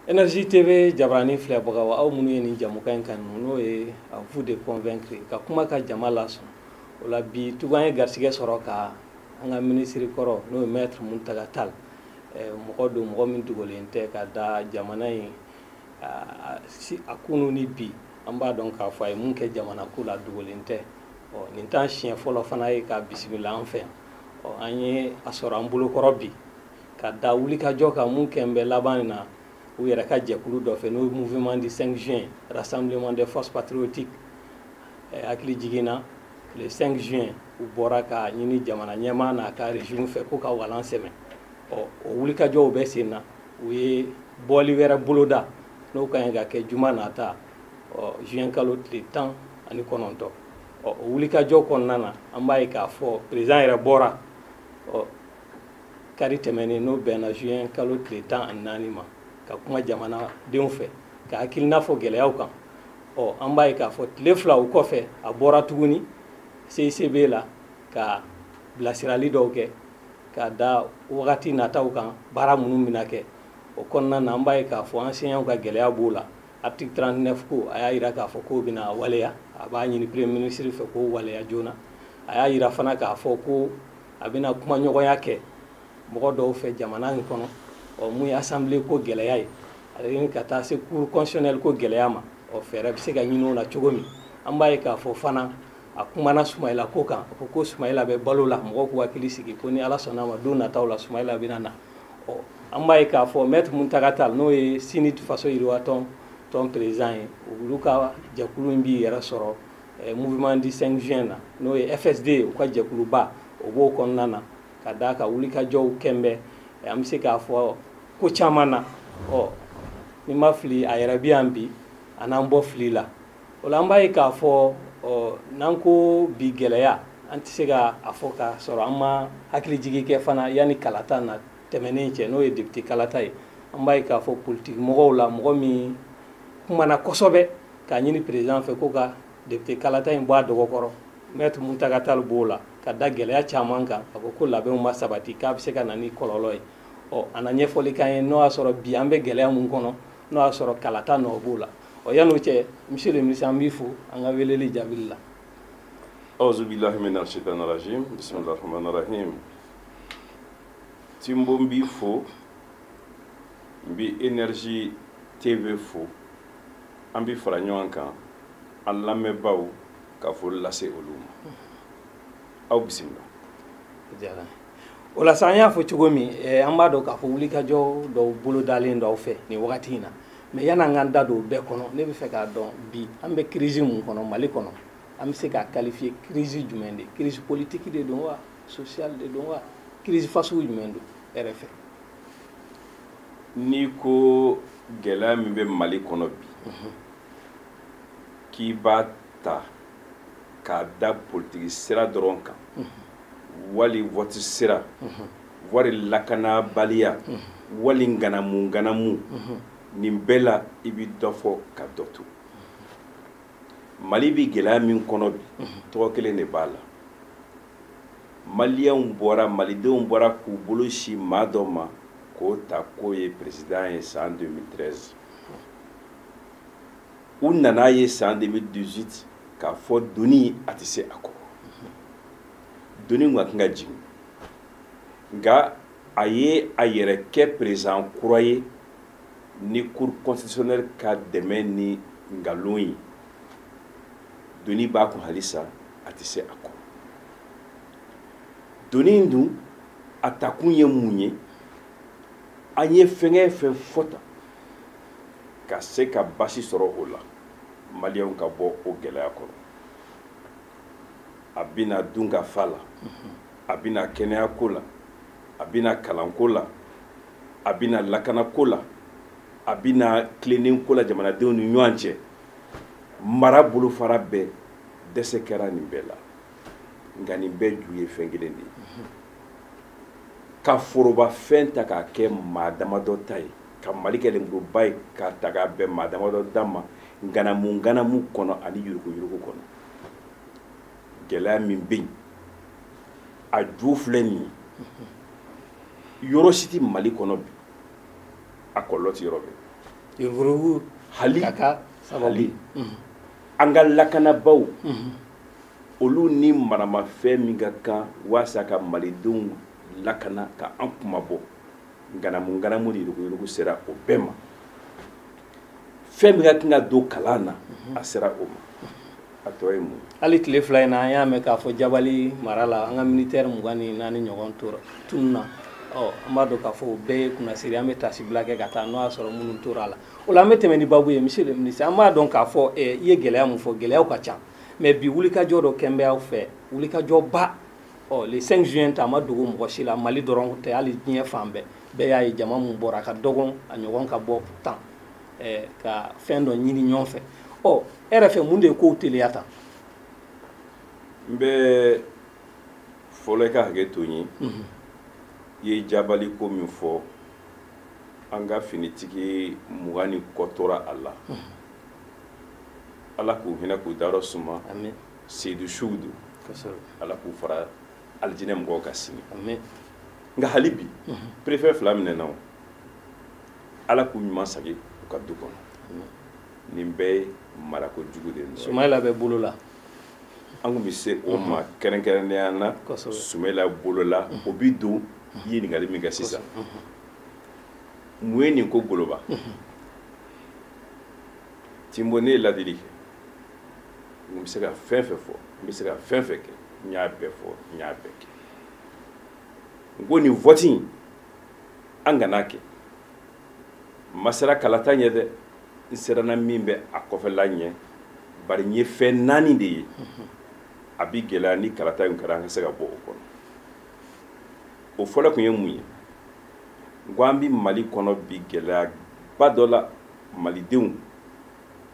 Energie TV jabaranin filɛbagaw aw minnu ye nin jɛmukan in kanu n'o ye à vous de convaincre ka kuma ka jama lasɔn o la bi tugu an ye garisigɛ sɔrɔ ka an ka minisiri kɔrɔ n'o ye maître Muntaga Tall mɔgɔ don mɔgɔ min dogolen tɛ ka da jamana in a kunu ni bi an b'a dɔn k'a fɔ a ye mun kɛ jamana ko la dogolen tɛ ɔ nin t'an siɲɛ fɔlɔ fana ye k'a bisimila an fɛ yan ɔ an ye a sɔrɔ an bolokɔrɔ bi ka da wulikajɔ kan mun kɛn bɛ laban in na u yɛrɛ ka jɛkulu dɔ fɛ n'o ye mouvement du 5 juin rassemblement des forces patriotiques hakilijigin na le 5 juin u bɔra k'a ɲini jamana ɲɛmaa n'a ka régime fɛ k'u ka walan sɛmɛ ɔ o wulikajɔw bɛ sen na u ye bɔli wɛrɛ boloda n'o ka ɲi ka kɛ juma nata ɔ juin kalo tile tan ani kɔnɔntɔ ɔ o wulikajɔ kɔnɔna na an b'a ye k'a fɔ président yɛrɛ bɔra ɔ kari tɛmɛnen n'o bɛnna juin kalo tile tan ani naani ma ka kuma jamanadenw fɛ k'a hakilina fɔ gɛlɛyaw kan ɔ an b'a ye k'a fɔ tile fila o kɔfɛ a bɔra tuguni CICB la ka bilasirali dɔw kɛ ka da wagati nataw kan baara minnu bɛna kɛ o kɔnɔna na an b'a ye k'a fɔ enseignants ka gɛlɛya b'o la article 39 ko a y'a jira k'a fɔ k'o bɛna waleya a b'a ɲini premier ministre fɛ k'o waleya joona a y'a jira fana k'a fɔ ko a bɛna kumaɲɔgɔnya kɛ mɔgɔ dɔw fɛ jamana in kɔnɔ ɔ mun ye assemblée ko gɛlɛya ye ani ka taa se cour constitutionnelle ko gɛlɛya ma ɔ fɛɛrɛ bɛ se ka ɲini o la cogo min an b'a ye k'a fɔ fana a kumana sumayila ko kan a ko ko sumayila bɛ balo la mɔgɔw k'u hakili sigi ko ni Ala sɔnna a ma don nataw la sumayila bɛna na ɔ an b'a ye k'a fɔ maître Muntaga Tall n'o ye CNID Faso Yiriwa Tɔn président ye olu ka jɛkulu in b'i yɛrɛ sɔrɔ eh, mouvement du 5 juin na n'o ye FSD u ka jɛkuluba o b'o kɔnɔna na ka d'a kan wulikajɔw kɛn bɛ eh, an bɛ se k'a fɔ ko caman na ɔ ni n ma fili a yɛrɛ bɛ yan bi a n'an bɔ fili la o la an b'a ye k'a fɔ ɔ n'an ko bi gɛlɛya an tɛ se ka a fɔ k'a sɔrɔ an ma hakilijigin kɛ fana yanni kalata na tɛmɛnen cɛ n'o ye député kalata ye an b'a ye k'a fɔ politiki mɔgɔw la mɔgɔ min kumana kosɛbɛ k'a ɲini président fɛ ko ka député kalata in bɔ a dɔgɔkɔrɔ maître Muntaga Tall b'o la ka da gɛlɛya caman kan a ko ko labɛnw ma sabati k'a bɛ se ka na ni kɔlɔlɔ ye ɔ a na ɲɛfɔli k'an ye n'o y'a sɔrɔ bi an bɛ gɛlɛya mun kɔnɔ n'o y'a sɔrɔ kalata nɔ b'o la ɔ yan'o cɛ monsieur le ministre an b'i fo an ka weleli jaabili la auzubillahi mina shaitanirajim bisimilahi rahmanirahim Timbo n b'i fo n bɛ Energie TV fo an bɛ fara ɲɔgɔn kan an lamɛnbaaw ka foli lase olu ma aw bisimila. Diyara o la sa an y'a fɔ cogo min eh, an b'a dɔn k'a fɔ wulikajɔ dɔw bolodalen don aw fɛ nin wagati in na mais yan'an k'an da don o bɛɛ kɔnɔ ne bɛ fɛ k'a dɔn bi an bɛ crise mun kɔnɔ Mali kɔnɔ an bɛ se k'a qualifier crise jumɛn de crise politique de don wa sosiya de don wa kirisi fasugu jumɛn don e yɛrɛ fɛ n'i ko gɛlɛya min bɛ mali kɔnɔ bi mhm. k'i b'a ta k'a da politiki sira dɔrɔn kan mhm. wali wɔti sira mhm. wali lakanabaliya wali nganamu nganamu nin bɛɛ la i bɛ dɔ fɔ ka dɔ to mali bɛ gɛlɛya min kɔnɔ bi tɔgɔ kelen de b'a la maliyɛnw bɔra malidenw bɔra k'u bolo sin maa dɔ ma k'o ta k'o ye peresidan ye san 2013 u nan'a ye san 2018 k'a fɔ doni a tɛ se a kɔrɔ doni kun ka kan ka jigin nka a ye a yɛrɛ kɛ perezan kura ye ni cour constitutionnelle ka dɛmɛ ni nkalon ye doni b'a kun halisa a tɛ se a kɔrɔ doni dun a takun ye mun ye an ye fɛngɛ fɛn fɔ tan ka se ka basi sɔrɔ o la maliyɛnw ka bɔ o gɛlɛya kɔrɔ a binna dunkafa la a binna kɛnɛyako la a binna kalanko la a binna lakana ko la a binna tilennen ko la jamanadenw ni ɲɔgɔn cɛ mara bolofara bɛɛ dɛsɛ kɛra nin bɛɛ la nka nin bɛɛ ju ye fɛn kelen de ye ka foroba fɛn ta k'a kɛ maa damadɔ ta ye ka mali kɛ lenburuba ye k'a ta k'a bɛn maa damadɔ da ma nganamu nganamu kɔnɔ ani yuruguyurugu kɔnɔ gɛlɛya min bɛ yen a ju filɛ nin ye yɔrɔ si tɛ mali kɔnɔ bi a kɔlɔlɔ tɛ yɔrɔ bɛɛ yuruguyurugu hali ka k'a sababu hali mhm. an ka lakanabaaw mhm. olu ni maramafɛn min ka kan walasa ka malidenw lakana ka an kunmabɔ nganamu nganamu ni yuruguyurugu sera o bɛɛ ma fɛn min ka kan ka don kalan na a sera o ma a tɔ ye mun hali tile fila in na an y'a mɛn k'a fɔ jabali mara la an ka militɛri mugan ni naani ɲɔgɔn tora tunu na ɔ an b'a dɔn k'a fɔ o bɛɛ ye kunnasiri an bɛ taasibila kɛ ka taa n'o y'a sɔrɔ minnu tora a la o la an bɛ tɛmɛ ni babu ye monsieur le ministre an b'a dɔn k'a fɔ eh, i ye gɛlɛya mun fɔ gɛlɛyaw ka ca mais bi wulikajɔ dɔ kɛlen bɛ aw fɛ wulikajɔba ɔ le 5 juin ta a ma dogo mɔgɔ si la mali dɔrɔn tɛ hali diɲɛ fan bɛɛ bɛɛ y'a ye jama mun bɔra a ka dɔgɔn a ɲɔgɔn ka bɔ tan eh, ka fɛn dɔ ɲini ɲɔgɔn fɛ ɔ e yɛrɛ fɛ mun de ye kow teliya tan n bɛ fɔlɔ i ka hakɛ to n ye mhm. i ye jabali ko min fɔ an ka finitigi mugan ni kɔ tora a la mhm. ala k'u hinɛ k'u dayɔrɔ suma seyidu suw don ala k'u fara alijinɛ mɔgɔw kan sini nka hali bi perefɛ fila minɛna o ala k'u ɲuman sagi u ka du kɔnɔ nin bɛɛ ye marako jugu de nɔ sumayila bɛ bolo la an tun bɛ se o ma kɛrɛnkɛrɛnnenya na sumayila bolo la o bi don i ye ɲininkali min kɛ sisan mun ye nin ko goloba tinbo ne ye ladili kɛ n bɛ se ka fɛn fɛn fɔ n bɛ se ka fɛn fɛn kɛ n y'a bɛɛ fɔ n y'a bɛɛ kɛ n ko nin vɔti in an kana kɛ n ma siran kalata ɲɛ dɛ n siranna min bɛ a kɔfɛla ɲɛ bari n ye fɛn naani de ye a bi gɛlɛya ni kalata in kɛra an ka se ka bɔ o kɔnɔ o fɔlɔ tun ye mun ye n ko an bi mali kɔnɔ bi gɛlɛyaba dɔ la malidenw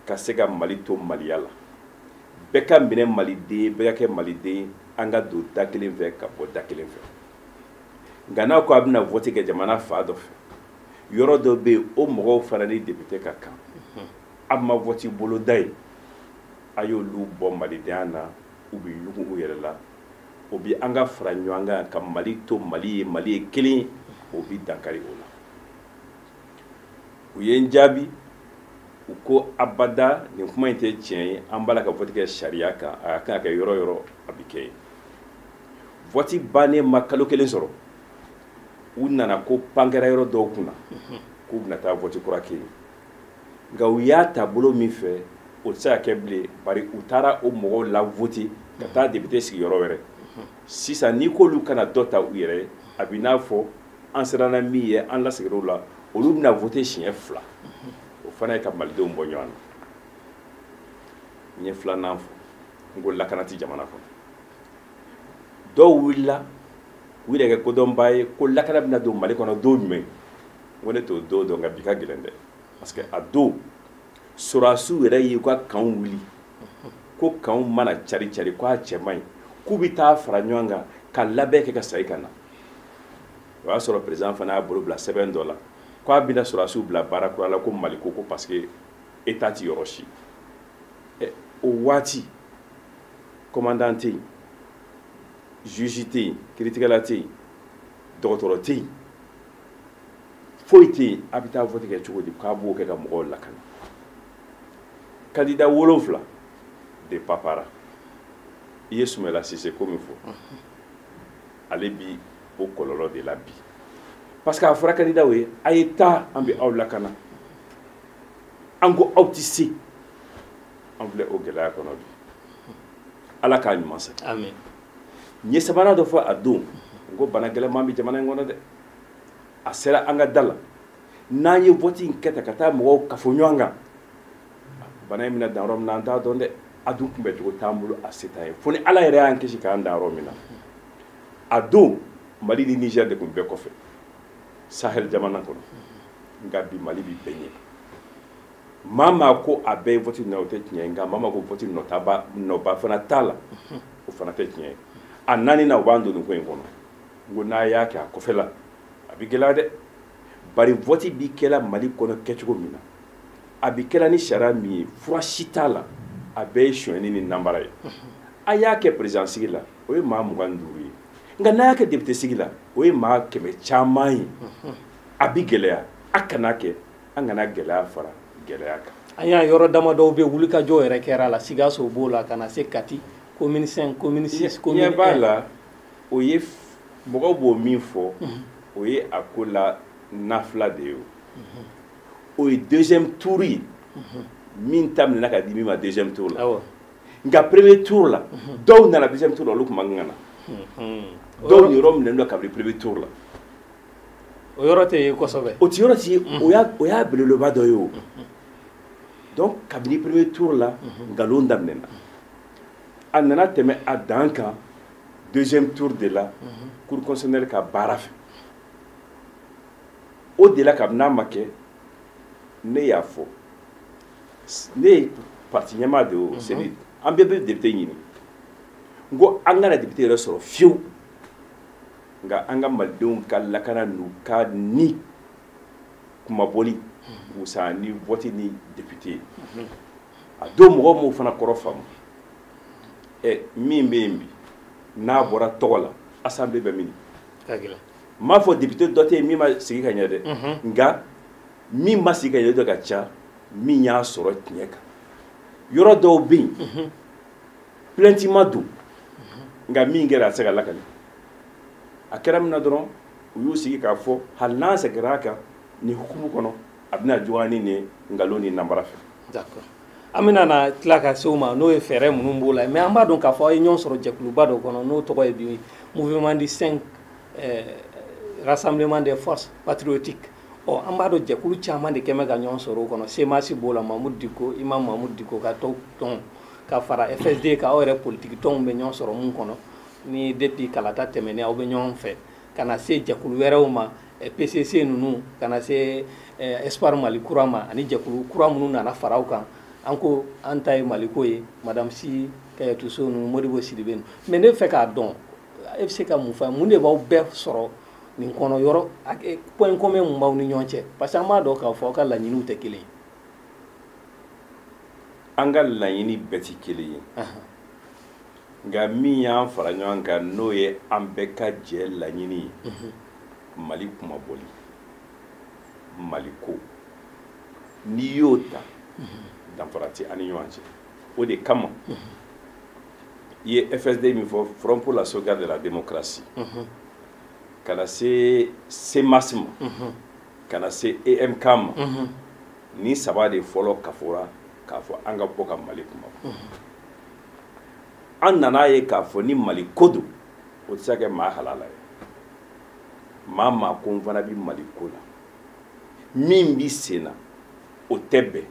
ka se ka mali to maliya la bɛɛ ka minɛ maliden ye bɛɛ ka kɛ maliden ye an ka don da kelen fɛ ka bɔ da kelen fɛ nka n'a ko a bɛna vɔti kɛ jamana fan dɔ fɛ yɔrɔ dɔ bɛ yen o mɔgɔw fana ni depite ka kan a ma vɔti boloda yen a y'olu bɔ malidenya na u bɛ ɲugu u yɛrɛ la o bɛ an ka fara ɲɔgɔn kan ka mali to mali ye mali ye kelen ye o bɛ dankari o la u ye n jaabi u ko abada nin kuma in tɛ tiɲɛ ye an b'a la ka vɔti kɛ sariya kan a ka kan ka kɛ yɔrɔ o yɔrɔ a bɛ kɛ yen vɔti bannen ma kalo kelen sɔrɔ u nana ko pan kɛra yɔrɔ dɔw kunna k'u bɛna taa vɔti kura kɛ yen nka u y'a ta bolo min fɛ o tɛ se ka kɛ bilen bari u taara o mɔgɔw lavɔti ka taa depite sigi yɔrɔ wɛrɛ sisan n'i k'olu kana dɔ ta u yɛrɛ ye a bɛ n'a fɔ an siranna min ɲɛ an lasigira o la olu bɛna vote siɲɛ fila o fana ye ka malidenw bɔ ɲɔgɔn na n ye filanan fɔ n ko lakana tɛ jamana kɔnɔ dɔw wulila u yɛrɛ kɛ kodɔnbaa ye ko lakana bɛna don mali kɔnɔ don jumɛn n ko ne t'o don dɔn nka bi ka gɛlɛn dɛ parce que a don sɔrɔdasiw yɛrɛ y'u ka kanw wuli ko kanw mana cari cari ko a cɛ man ɲi k'u bɛ taa fara ɲɔgɔn kan ka labɛn kɛ ka segin ka na o y'a sɔrɔ président fana y'a bolo bila sɛbɛn dɔ la ko a bɛna sɔrɔdasiw bila baara kura la ko maliko ko parce que état ti yɔrɔ si ɛ o waati commandant tɛ yen juge tɛ yen kiiritigɛla tɛ yen dɔgɔtɔrɔ tɛ yen foyi tɛ yen a bɛ taa vote kɛ cogo di k'a b'o kɛ ka mɔgɔw lakana kandida wolonfila de papara i ye sumayila sise ko min fɔ ale bi o kɔlɔlɔ de la bi parce que a fɔra kandidaw ye a ye taa an bɛ aw lakana an ko aw tɛ se an filɛ o gɛlɛya kɔnɔ bi ala k'a ɲuman segin n ye sabanan dɔ fɔ a don n ko bana gɛlɛman bɛ jamana in kɔnɔ dɛ a sera an ka da la n'an ye vote in kɛ tan ka taa mɔgɔw kafo ɲɔgɔn kan bana in bɛna dan yɔrɔ min na an t'a dɔn dɛ a dun kunbɛ cogo t'an bolo a se t'an ye fo ni ala yɛrɛ y'an kisi k'an dan yɔrɔ min na a don mali ni nizɛri de tun bɛɛ kɔfɛ sahel jamana kɔnɔ nka bi mali bi bɛɛ ɲɛ maa maa ko a bɛɛ ye vɔti nɔ o tɛ tiɲɛ ye nka maa maa ko vɔti nɔ t'a la nɔba fana t'a la o fana tɛ tiɲɛ ye a naaninan u b'an don nin ko in kɔnɔ n ko n'a y'a kɛ a kɔfɛla a bɛ gɛlɛya dɛ bari vɔti bi kɛla mali kɔnɔ kɛcogo min na a bɛ kɛla ni sariya min ye fura si t'a la a bɛɛ ye sonyɛni ni nanbara ye a y'a kɛ perezidan sigi la o ye maa mugan ni duuru ye nka n'a y'a kɛ depite sigi la o ye maa kɛmɛ caman ye a bɛ gɛlɛya a kana kɛ an kana gɛlɛya fara gɛlɛya kan an y'a yɔrɔ damadɔw bɛ wulikajɔ yɛrɛ kɛra a la sikaso b'o la ka na se kati commune cinq commune six commune un b'a la o ye mɔgɔw b'o min fɔ o ye a ko la nafila de ye o o ye deuxième tour ye min ta minɛna ka di min ma deuxième tour la nka premier tour la dɔw nana deuxième tour la olu tun man kan na dɔw niyɔrɔ minɛnen don kabini premier tour la o yɔrɔ tɛ ye kosɛbɛ o ti yɔrɔ ti ye o y'a o y'a belebeleba dɔ ye o donc kabini premier tour la nkalon daminɛna a nana tɛmɛ a dan kan deuxième tour de la cour constitutionnelle ka baara fɛ o de la kabini a ma kɛ ne y'a fɔ ne ye parti ɲɛmaa de au cnid an bɛɛ bɛ depite ɲini n ko an kana depite yɛrɛ sɔrɔ fiyewu nka an ka malidenw ka lakana n'u ka ni kunmabɔli wusa ni vɔti ni depite ye a don mɔgɔw m'o fana kɔrɔ faamu ɛ min bɛ yen bi n'a bɔra tɔgɔ la asanbile bɛ min n m'a fɔ député dɔ tɛ yen min ma sigi ka ɲɛ dɛ nka min ma sigi ka ɲɛ de ka ca min y'a sɔrɔ tiɲɛ kan yɔrɔ dɔw bɛ yen plainte ma don nka min kɛra a tɛ se ka lakali a kɛra min na dɔrɔn u y'u sigi k'a fɔ hali n'an seginna a kan nin hukumu kɔnɔ a bɛna juguya ni nin nkalon ni nanbara fɛ. d'accord an bɛna na tila ka se o ma n'o ye fɛɛrɛ minnu b'o la mais an b'a dɔn k'a fɔ aw ye ɲɔgɔn sɔrɔ jɛkuluba dɔ kɔnɔ n'o tɔgɔ ye bi mouvement du 5 eh, rassemblement des forces patriotiques ɔ an b'a dɔn jɛkulu caman de quand même ka ɲɔgɔn sɔrɔ o kɔnɔ cmas b'o la mamudu diko imam mamudu diko ka tɔw tɔn ka fara fsd kan aw yɛrɛ politiki tɔnw bɛ ɲɔgɔn sɔrɔ min kɔnɔ ni depuis kalata tɛmɛnen aw bɛ ɲɔgɔn fɛ ka na se jɛkulu wɛrɛw ma eh, pcc ninnu ka na se eh, espoir mali kura ma ani jɛkulu kura minnu nana fara aw kan an ko an ta ye maliko ye madame sy kadiatou sow ninnu modibo sidibe ninnu mais ne fɛ k'a dɔn e bɛ se ka mun fɔ mun de b'aw bɛɛ sɔrɔ nin kɔnɔ yɔrɔ point commun mun b'aw ni ɲɔgɔn cɛ parce que an b'a dɔn k'a fɔ aw ka laɲiniw tɛ kelen ye an ka laɲini bɛɛ tɛ kelen ye nka min y'an fara ɲɔgɔn kan n'o ye an bɛɛ ka jɛ laɲini ye mhm. mali kunmabɔli mali ko n'i y'o ta mhm. danfara tɛ an ni ɲɔgɔn cɛ o de kama mhm. i ye fsd min fɔ front pour la sauvegarde de la démocratie mhm. ka na se cmas ma mhm. ka na se emk ma mhm. nin saba de fɔlɔ kafora k'a fɔ an ka bɔ ka mali kunmabɔ an nan'a ye k'a fɔ ni mali ko don o tɛ se ka kɛ maa halala ye maa maa ko n fana bɛ mali ko la min bɛ sen na o tɛ bɛn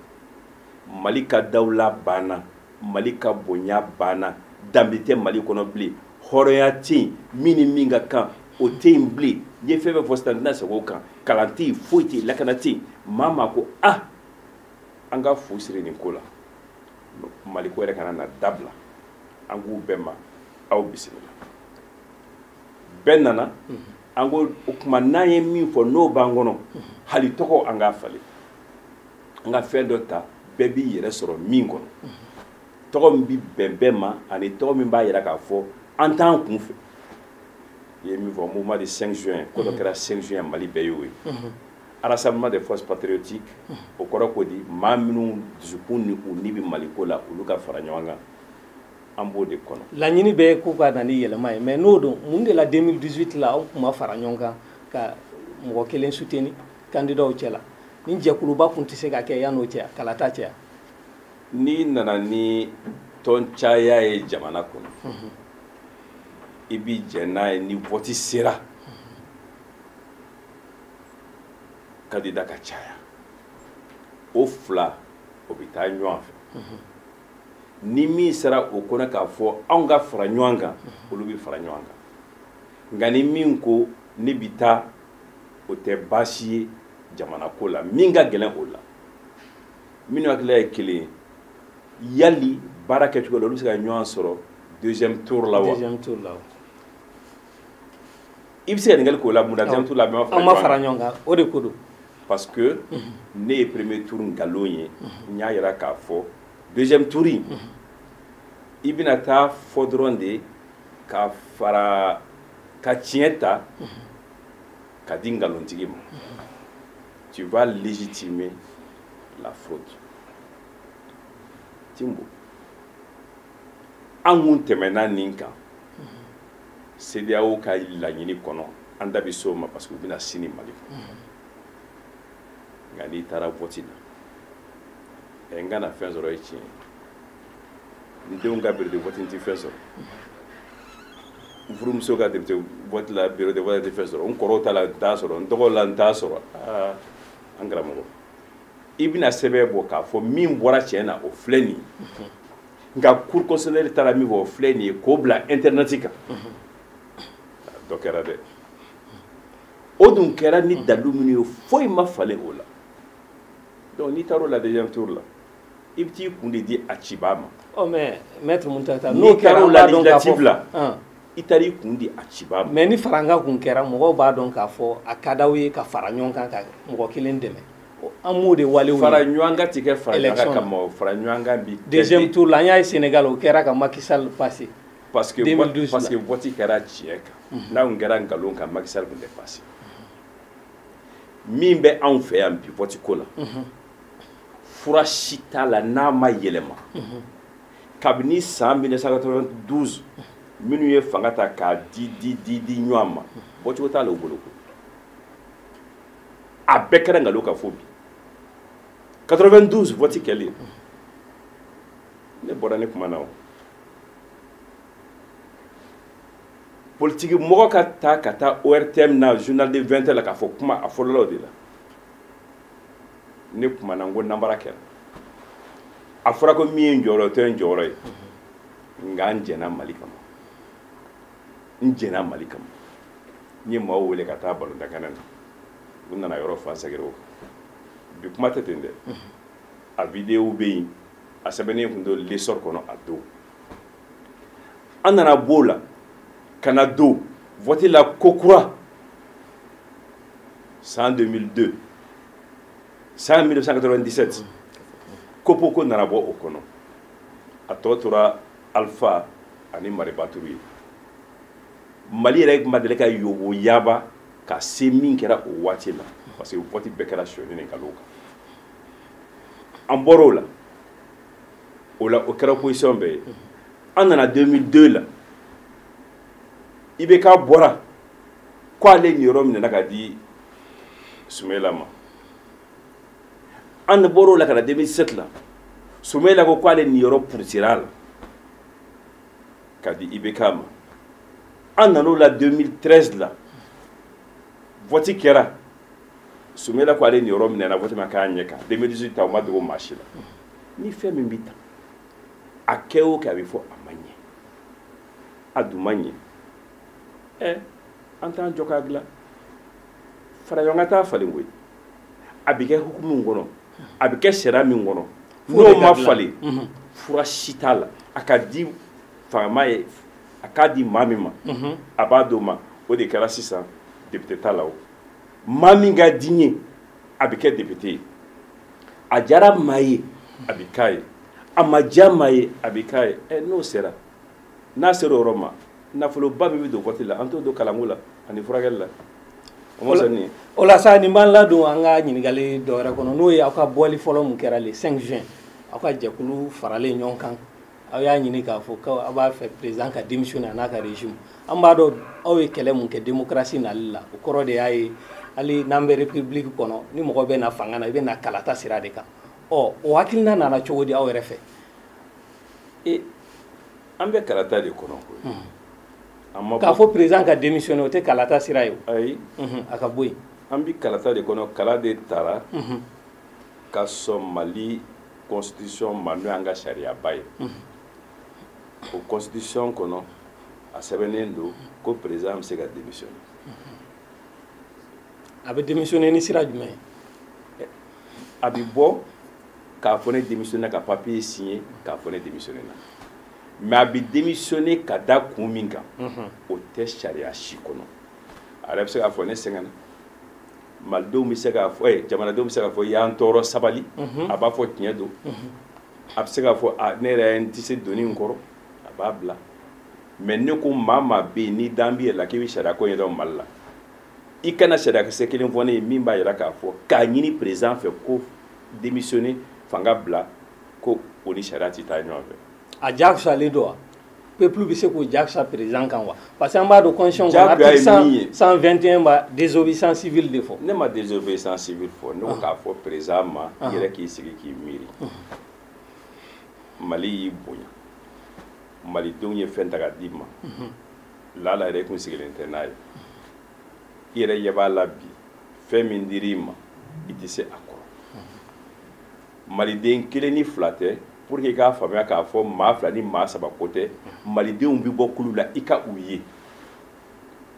mali ka dawula banna mali ka bonya banna danbe tɛ mali kɔnɔ bilen hɔrɔnya tɛ yen min ni min ka kan o tɛ yen bilen n ye fɛn fɛn fɔ sisan n tɛna segin o kan kalan tɛ yen foyi tɛ yen lakana tɛ yen maa maa ko ah an ka fu siri nin ko la mali ko yɛrɛ kana na dabila an ko bɛɛ ma aw bisimila bɛɛ nana an ko o tuma n'an ye min fɔ n'o b'an kɔnɔ hali tɔgɔ an k'a falen an ka fɛn dɔ ta bɛɛ b'i yɛrɛ sɔrɔ min kɔnɔ tɔgɔ min bɛ bɛn bɛɛ ma ani tɔgɔ min b'a yira k'a fɔ an t'an kun fɛ i ye min fɔ mouvement du 5 juin ko dɔ kɛra 5 juin mali bɛɛ y'o ye rassemblement des forces patriotiques o kɔrɔ ko di maa minnu dusukun ni u ni bɛ maliko la olu ka fara ɲɔgɔn kan an b'o de kɔnɔ laɲini bɛɛ k'u ka na ni yɛlɛma ye mais n'o don mun de la 2018 la aw tun ma fara ɲɔgɔn kan ka mɔgɔ kelen soutenir kandidaw cɛla ni jɛkuluba kun tɛ se ka kɛ yan'o cɛ kalata cɛ n'i nana ni tɔn caya ye jamana kɔnɔ mhm. i b'i jɛn n'a ye ni vɔti sera kandida ka caya o fila o bɛ taa ɲɔgɔn fɛ mhm. ni min sera o kɔnɔ k'a fɔ anw ka fara ɲɔgɔn kan mhm. olu bɛ fara ɲɔgɔn kan nka ni min ko ne bɛ taa o tɛ baasi ye jamana ko la min ka gɛlɛn o la minnu hakili ye kelen ye yali baara kɛcogo la olu bɛ se ka ɲɔgɔn sɔrɔ deuxième tour la wa deuxième tour la i bɛ se ka ɲininkali k'o la mun na deuxième tour la bɛɛ ma fara ɲɔgɔn kan an ma fara ɲɔgɔn kan o de ko don parce que ne ye premier tour nkalon ye n y'a jira k'a fɔ deuxième tour in i bɛna taa fɔ dɔrɔn de ka fara ka tiɲɛ ta ka di nkalontigi ma tu vas légitimer la fraude timbo an kun tɛmɛna nin kan CEDEAO ka laɲini kɔnɔ an da bɛ s'o ma parce que u bɛ na sini Mali kɔnɔ nka n'i taara vote la ɛ n kana fɛn sɔrɔ ye tiɲɛ ye n denw ka bureau de vote n tɛ fɛn sɔrɔ n furumuso ka bureau de vote la bureau de vote n tɛ fɛn sɔrɔ n kɔrɔw ta la n t'a sɔrɔ n dɔgɔw la n t'a sɔrɔ aa an karamɔgɔ i bɛna sɛbɛn bɔ k'a fɔ min bɔra tiɲɛ na o filɛ nin ye nka cour constitutionnelle taara min fɔ o filɛ nin ye k'o bila internet kan dɔ kɛra dɛ o dun kɛra ni dalu minnu ye foyi ma falen o la donc n'i taar'o la deuxième tour la i bɛ t'i kun de di a cibaa ma ɔ mais maître Muntaga n'o n'i kɛra taara o an b'a dɔn k'a fɔ législative la Ɔn. i taara i kun di a cibaa ma mais ni farankan kun kɛra mɔgɔw b'a dɔn k'a fɔ a ka d'aw ye ka fara ɲɔgɔn kan ka mɔgɔ kelen dɛmɛ O- an m'o de walew ye. fara ɲɔgɔn kan tɛ kɛ fara ɲɔgɔn kan Election. kama o fara ɲɔgɔn kan bi kɛ deuxième de- tour la an y'a ye Sénégal o kɛra ka Macky Sall passer parce que 2012 parce que la. vote kɛra tiɲɛ kan n'a tun kɛra nkalon kan Macky Sall tun tɛ passé min bɛ anw fɛ yan bi vote ko la fura si t'a la n'a ma yɛlɛma kabini san 1992 minnu ye fanga ta k'a di di di di ɲɔgɔn ma bɔcogo t'a la u bolo a bɛɛ kɛra nkalon kan fo bi 92 vote kɛlen ne bɔra ne kumana o politiki mɔgɔ ka taa ka taa ortm na journal de 20 heures la k'a fɔ kuma a fɔlɔla o de la ne kumana n ko nanbara kɛra a fɔra ko min ye n jɔyɔrɔ o tɛ n jɔyɔrɔ ye nka n jɛna mali kama n jɛna mali kama n ye maaw wele ka taa balontankɛnɛ na u nana yɔrɔ fa sɛgɛrɛ o bi kuma tɛ ten dɛ a videow bɛ yen a sɛbɛnnen tun don l'essor kɔnɔ a don an nana b'o la ka na don vɔti la kokura san 2002 san 1997 coppo ko nana bɔ o kɔnɔ a tɔ tora alpha ani maribaturu ye mali yɛrɛ ma deli ka yobo yaba ka se min kɛra o waati la parce que vote bɛɛ kɛra sonyani ni nkalon kan an bɔra o la o la o kɛra opposition bɛɛ ye an nana 2002 la ibk bɔra ko ale niyɔrɔ minɛna ka di sumela ma an bɔr'o la ka na 2007 la sumela ko k'ale niyɔrɔ purusira a la ka di ibk ma an nan'o la 2013 la vɔti kɛra sumela ko ale niyɔrɔ minɛna vɔti ma k'a ɲɛ kan 2018 ta o ma dogo maa si la ni fɛn min bɛ tan a kɛ o kɛ a bɛ fɔ a ma ɲɛ a dun ma ɲɛ ɛ an t'an jɔ k'a dilan fara ɲɔgɔn kan t'a falen koyi a bɛ kɛ hukumu min kɔnɔ a bɛ kɛ sariya min kɔnɔ n'o ma falen mhm. fura si t'a la a ka di fangama ye a k'a di maa min ma mhm. a b'a d'o ma o de kɛra sisan depite ta la o maa min ka di n ye a bɛ kɛ depite ye a diyara maa ye a bɛ k'a ye a ma diya maa ye a bɛ k'a ye ɛ n'o sera n'a sera o yɔrɔ ma nafoloba min bɛ don vɔti la an t'o don kalanko la ani furakɛli la o ma sɔn nin ye o la sa nin b'an ladon an ka ɲininkali dɔ wɛrɛ kɔnɔ n'o ye aw ka bɔli fɔlɔ min kɛra le 5 juin aw ka jɛkulu faralen ɲɔgɔn kan aw y'a ɲini k'a fɔ ko aw b'a fɛ président ka démissionner a n'a ka régime an b'a dɔn aw ye kɛlɛ min kɛ démocratie nali la o kɔrɔ de y'a ye hali n'an bɛ république kɔnɔ ni mɔgɔ bɛ na fanga na i bɛ na kalata sira de kan ɔ o hakilina nana cogo di aw yɛrɛ fɛ e an bɛ kalata de kɔnɔ koyi hmm. k'a fɔ président ka démissionner o tɛ kalata sira ye ayi hmm, a ka bɔ yen an bɛ kalata de kɔnɔ kala de tara hmm. ka sɔn mali constitution ma n'o y'an ka sariyaba ye o constitution kɔnɔ a sɛbɛnnen don ko président bɛ se ka démissionner a bɛ démissionner ni sira jumɛn ye a bɛ bɔ k'a fɔ ne démissionner ka papier signer k'a fɔ ne démissionner na mais a bɛ démissionner ka da kun min kan mhm. o tɛ sariya si kɔnɔ a yɛrɛ bɛ se k'a fɔ ne sɛgɛnna malidenw bɛ se k'a fɔ eh, jamanadenw bɛ se k'a fɔ y'an tɔɔrɔ sabali mhm. a b'a fɔ tiɲɛ don mhm. a bɛ se k'a fɔ ah, ne yɛrɛ n tɛ se donni in kɔrɔ a b'a bila mais ne ko maa maa bɛ yen n'i dan b'i yɛrɛ la k'i bɛ sariya ko ɲɛdɔn mali la i kana sariyakisɛ kelen fɔ ne ye min b'a yira k'a fɔ k'a ɲini président fɛ ko démissionner fanga bila ko o ni sariya tɛ taa ɲɔgɔn fɛ a diyagoyalen don wa peuple bɛ se k'o diyagoya président kan wa parce que an b'a dɔn constitution kɔnɔ article 121 b'a désobéissance civile de fɔ ne ma désobéissance civile fɔ ne ko ah. k'a fɔ président ma ah. i yɛrɛ k'i sigi k'i miiri ah. mali y'i bonya malidenw ye fɛn ta ka d'i ma mhm. laala yɛrɛ i kun sigilen tɛ n'a ye i yɛrɛ ɲɛ b'a la bi fɛn min dir'i ma i tɛ se a kɔrɔ maliden kelen ni fila tɛ pour que i k'a faamuya k'a fɔ maa fila ni maa saba ko tɛ malidenw bɛ bɔ kulu la i ka u ye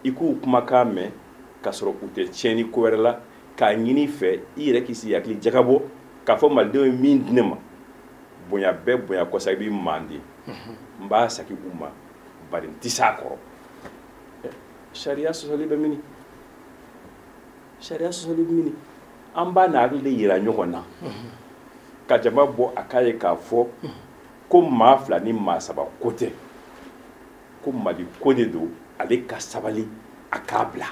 i k'u kumakan mɛn k'a sɔrɔ u tɛ tiɲɛni ko wɛrɛ la k'a ɲini i fɛ i yɛrɛ k'i sigi hakili jagabɔ k'a fɔ malidenw ye min di ne ma bonya bɛɛ bonya kɔsa i b'i mandi n b'a sagi u ma bari n tɛ s'a kɔrɔ sariya sɔsɔli bɛ mini sariya sɔsɔli bɛ mini an b'an hakili de yira ɲɔgɔn na ka jama bɔ a k'a ye k'a fɔ ko maa fila ni maa saba ko tɛ ko mali ko de don ale ka sabali a k'a bila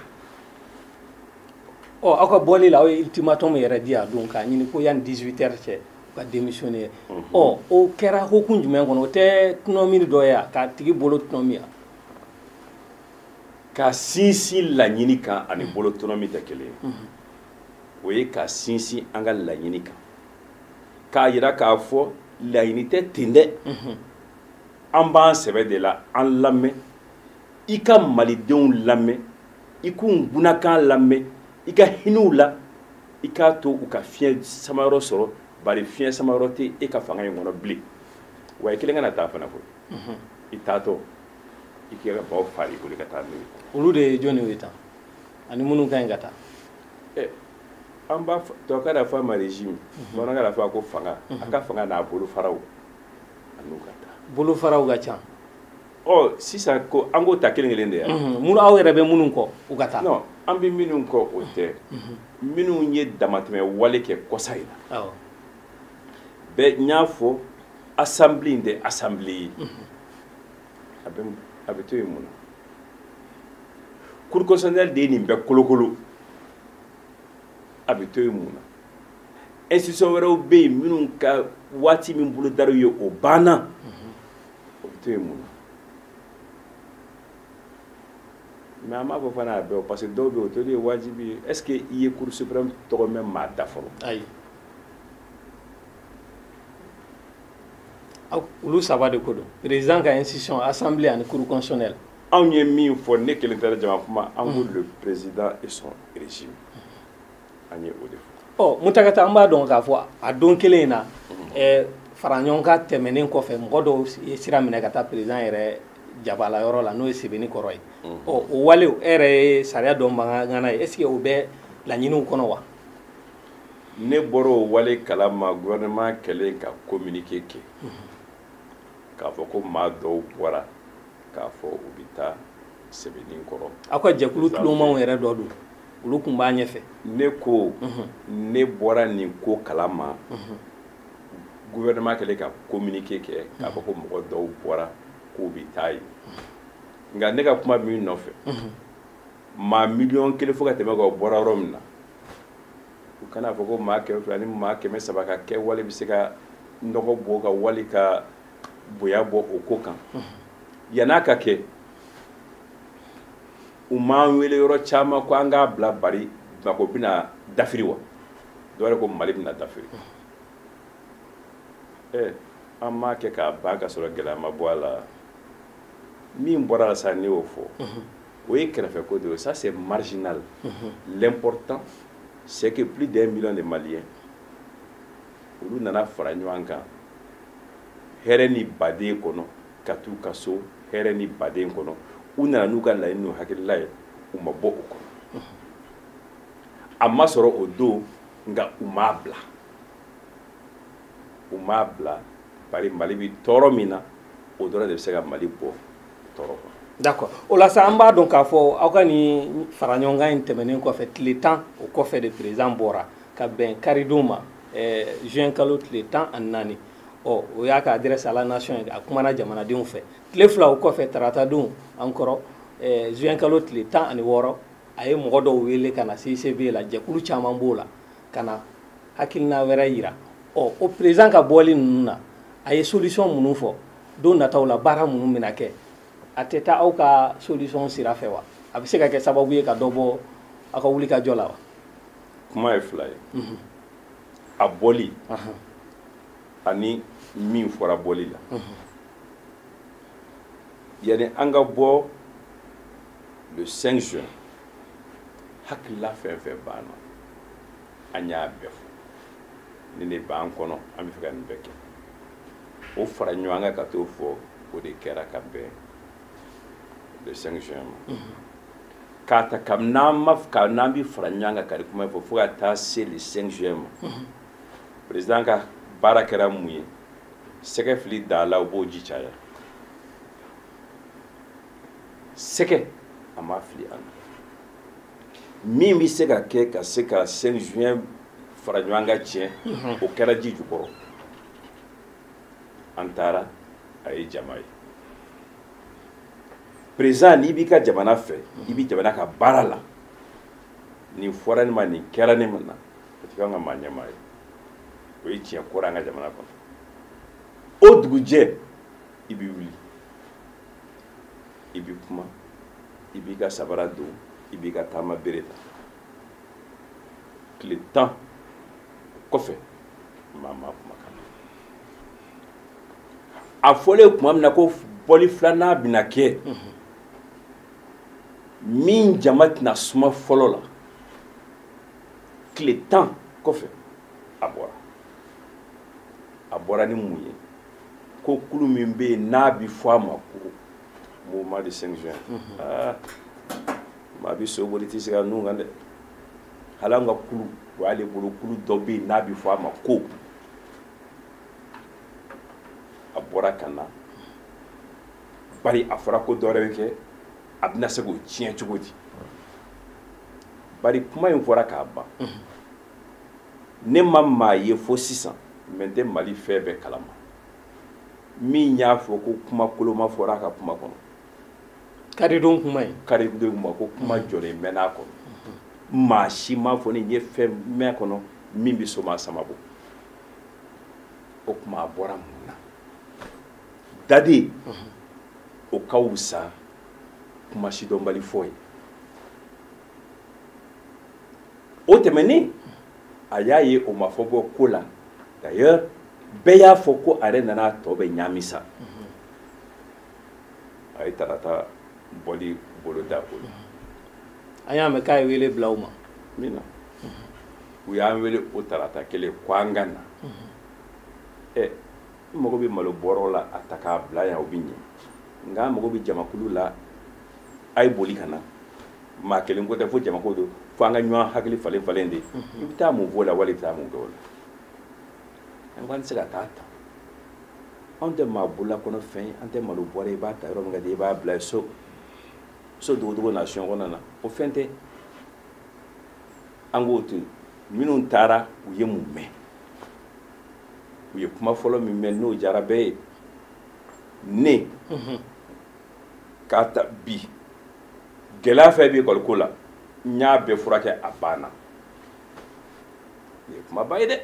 ɔ aw ka bɔli la aw ye ultimatum yɛrɛ di a don k'a ɲini ko yanni 18 heures cɛ ka démissionner ɔ o kɛra hukumu jumɛn kɔnɔ o tɛ tɔnɔmi dɔ ye k'a tigi bolo tɔnɔmi wa ka sinsin laɲini kan ani mm-hmm. bolo tɔnɔmi tɛ kelen ye mm-hmm. o ye ka sinsin an ka laɲini kan k'a yira k'a fɔ laɲini tɛ ten dɛ mm-hmm. an b'an sɛbɛ de la an lamɛn i ka malidenw lamɛn i k'u ŋunakan lamɛn i ka hinɛ u la i k'a to u ka fiɲɛ samayɔrɔ sɔrɔ bari fiɲɛ samayɔrɔ tɛ e ka fanga in kɔnɔ bilen wa i kelen kana taa fana koyi mhm. i taatɔ i k'i ka baw fa i bolo ka taa n'u ye olu de ye jɔni ye tan ani minnu ka ɲi ka taa eh, an b'a tubabukan na fɔ a ma régime mhm. bamanankan na fɔ a ko fanga a mhm. ka fanga n'a bolofaraw a n'u ka taa bolofaraw ka ca ɔ sisan ko an k'o ta kelen kelen de ya mun aw yɛrɛ bɛ minnu kɔ u ka taa non an bɛ minnu kɔ o tɛ minnu ye damatɛmɛ wale kɛ kɔsa in na bɛɛ n y'a fɔ assemblée in tɛ assemblée ye a bɛ a bɛ to yen mun na cour constitutionnelle de ye nin bɛɛ kolokolo a bɛ to yen mun na institution wɛrɛw bɛ yen minnu ka waati min bolodara u ye o banna. o bɛ to yen mun na mais an m'a fɔ fana a bɛɛ parce que dɔw bɛ yen o toli ye wajibi ye est ce que i ye cour suprême tɔgɔ mɛn maa da fɔlɔ ayi olu saba de ko don président ka institution assemblée ani cour constitutionnelle anw ye min fɔ ne kelen tɛ dɛ jama kuma an ko le président et son régime an ye o de fɔ ɔ muntaga tal an b'a dɔn k'a fɔ a don kelen in na mhm. fara ɲɔgɔn kan tɛmɛnen kɔfɛ mɔgɔ dɔw ye sira minɛ ka taa président yɛrɛ jabala yɔrɔ la n'o ye sebenikɔrɔ ye mhm. ɔ o walew e yɛrɛ ye sariya dɔnbaga ŋana ye est ce que o bɛ laɲiniw kɔnɔ wa ne bɔra o wale kala ma gouvernement kɛlen ka communiqué kɛ mhm. k'a fɔ ko maa dɔw bɔra k'a fɔ u bɛ taa sebenikɔrɔ aw ka jɛkulu tulomanw yɛrɛ dɔ don olu tun b'a ɲɛfɛ ne ko ne bɔra nin ko kala ma gouvernement kɛlen ka communiqué kɛ k'a fɔ ko mɔgɔ dɔw bɔra k'u bɛ taa yen nka ne ka kuma min nɔfɛ maa miliyɔn kelen fo ka tɛmɛ a kan o bɔra yɔrɔ min na u kana fɔ ko maa kɛmɛ fila ni maa kɛmɛ saba ka kɛwale bɛ se ka nɔgɔ bɔ ka wali ka bonya bɔ o ko kan yan'a ka kɛ u m'an wele yɔrɔ caman ko an k'a bila bari bamako bɛna dafiri wa dɔw yɛrɛ ko mali bɛna dafiri ɛ eh, an m'a kɛ k'a ban ka sɔrɔ gɛlɛya ma bɔ a la min bɔra a la sa ne y'o fɔ o ye kɛrɛfɛ ko de ye ça c'est marginal l'important c'est que plus d'un million de maliens olu nana fara ɲɔgɔn kan hɛrɛ ni badenya kɔnɔ ka t'u ka so hɛrɛ ni baden kɔnɔ u nana n'u ka laɲini n'u hakilila ye u ma bɔ o kɔnɔ a ma sɔrɔ o don nka u m'a bila u m'a bila bari mali bɛ tɔɔrɔ min na o dɔrɔn de bɛ se ka mali bɔ tɔɔrɔ kɔnɔ d'accord o la sa an b'a dɔn k'a fɔ aw ka nin fara ɲɔgɔn kan in tɛmɛnen kɔfɛ tile tan o kɔfɛ de président bɔra ka bɛn karidon ma eh, juin kalo tile tan ani naani ɔ o y'a ka adresse à la nation ye a kumana jamanadenw fɛ tile fila o kɔfɛ taratadon an kɔrɔ eh, juin kalo tile tan ani wɔɔrɔ a ye mɔgɔ dɔw wele ka na CICB la jɛkulu caman b'o la ka na hakilina wɛrɛ yira ɔ o président ka bɔli ninnu na a ye solution minnu fɔ don nataw la baara minnu bɛna kɛ a tɛ taa aw ka solution sira fɛ wa a bɛ se ka kɛ sababu ye ka dɔ bɔ aw ka wulikajɔ la wa kuma ye fila ye mhm. a bɔli ani min fɔra bɔli la mhm. yani an ka bɔ le 5 juin hakilila fɛn fɛn b'an na an y'a bɛɛ fɔ nin de b'an kɔnɔ an bɛ fɛ ka nin bɛɛ kɛ o fara ɲɔgɔn kan ka t'o fɔ o de kɛra ka bɛn le 5 juin ma mhm. k'a ta ka n'an ma ka n'an bɛ fara ɲɔgɔn kan ka nin kuma in fɔ fo ka taa se le 5 juin ma mhm. président ka baara kɛra mun ye sɛgɛ fili da la u b'o ji caya sɛgɛ a ma fili an na min bɛ se ka kɛ ka se ka 5 juin fara ɲɔgɔn kan tiɲɛ mhm. o kɛra ji jukɔrɔ an taara a ye jama ye président n'i b'i ka jamana fɛ i bɛ jamana ka baara la nin fɔra ne ma nin kɛra ne ma na o tɛ k'an ka maa ɲɛmaa ye o ye tiɲɛ kɔrɔ an ka jamana kɔnɔ o dugujɛ i bɛ wuli i bɛ kuma i b'i ka sabara don i b'i ka taama bere ta tile tan kɔfɛ maa ma kumakan a fɔlen tuma min na ko bɔli filanan bɛna kɛ min jama tɛna suma fɔlɔ la tile tan kɔfɛ a bɔra a bɔra ni mun ye ko kulu min bɛ yen n'a bɛ fɔ a ma ko mouvement de cinq juin aa maa bɛ so boli i tɛ sigi a nun kan dɛ hali an ka kulu o y'ale bolo kulu dɔ bɛ yen n'a bɛ fɔ a ma ko a bɔra ka na bari a fɔra ko dɔwɛrɛ bɛ kɛ a bɛna se k'o tiɲɛ cogo di bari kuma in fɔra k'a ban ne ma maa ye fo sisan mɛ n tɛ mali fɛn bɛɛ kalama min y'a fɔ ko kuma koloma fɔra a ka kuma kɔnɔ karidon kuma ye karidon kuma ko kuma jɔlen mɛn a kɔnɔ maa si m'a fɔ ne ye fɛn mɛn a kɔnɔ min bɛ soma sama bɔ o tuma a bɔra mun na dade o ka wusa kuma sidɔnbali fɔ ye o tɛmɛnen a y'a ye o ma foyi bɔ ko la d'ailleurs bɛɛ y'a fɔ ko a yɛrɛ nana a tɔ bɛɛ ɲaami sa a ye tarata bɔli boloda o la an y'a mɛn k'a ye wele bila u ma min na u y'an wele o tarata kelen ko an ka na ɛ n mago bɛ malo bɔrɔ la a ta k'a bila yan o bɛ ɲɛ nka n mago bɛ jamakulu la a ye boli ka na maa kelen ko tɛ fo jamako don fo an ka ɲɔgɔn hakili falen falen de i bɛ taa mun f'o la wali i bɛ taa mun kɛ o la an ko an tɛ se ka taa ta anw tɛ maa bolola kɔnɔ fɛn ye an tɛ malo bɔrɛ i b'a ta yɔrɔ min ka di i b'a bila so so dogodogo na sɔn kɔnɔna na o fɛn tɛ an k'o to yen minnu taara u ye mun mɛn u ye kuma fɔlɔ min mɛn n'o diyara bɛɛ ye ne mhm. k'a ta bi gɛlɛya fɛn bɛ ekɔliko la n y'a bɛɛ furakɛ a banna nin ye kumaba ye dɛ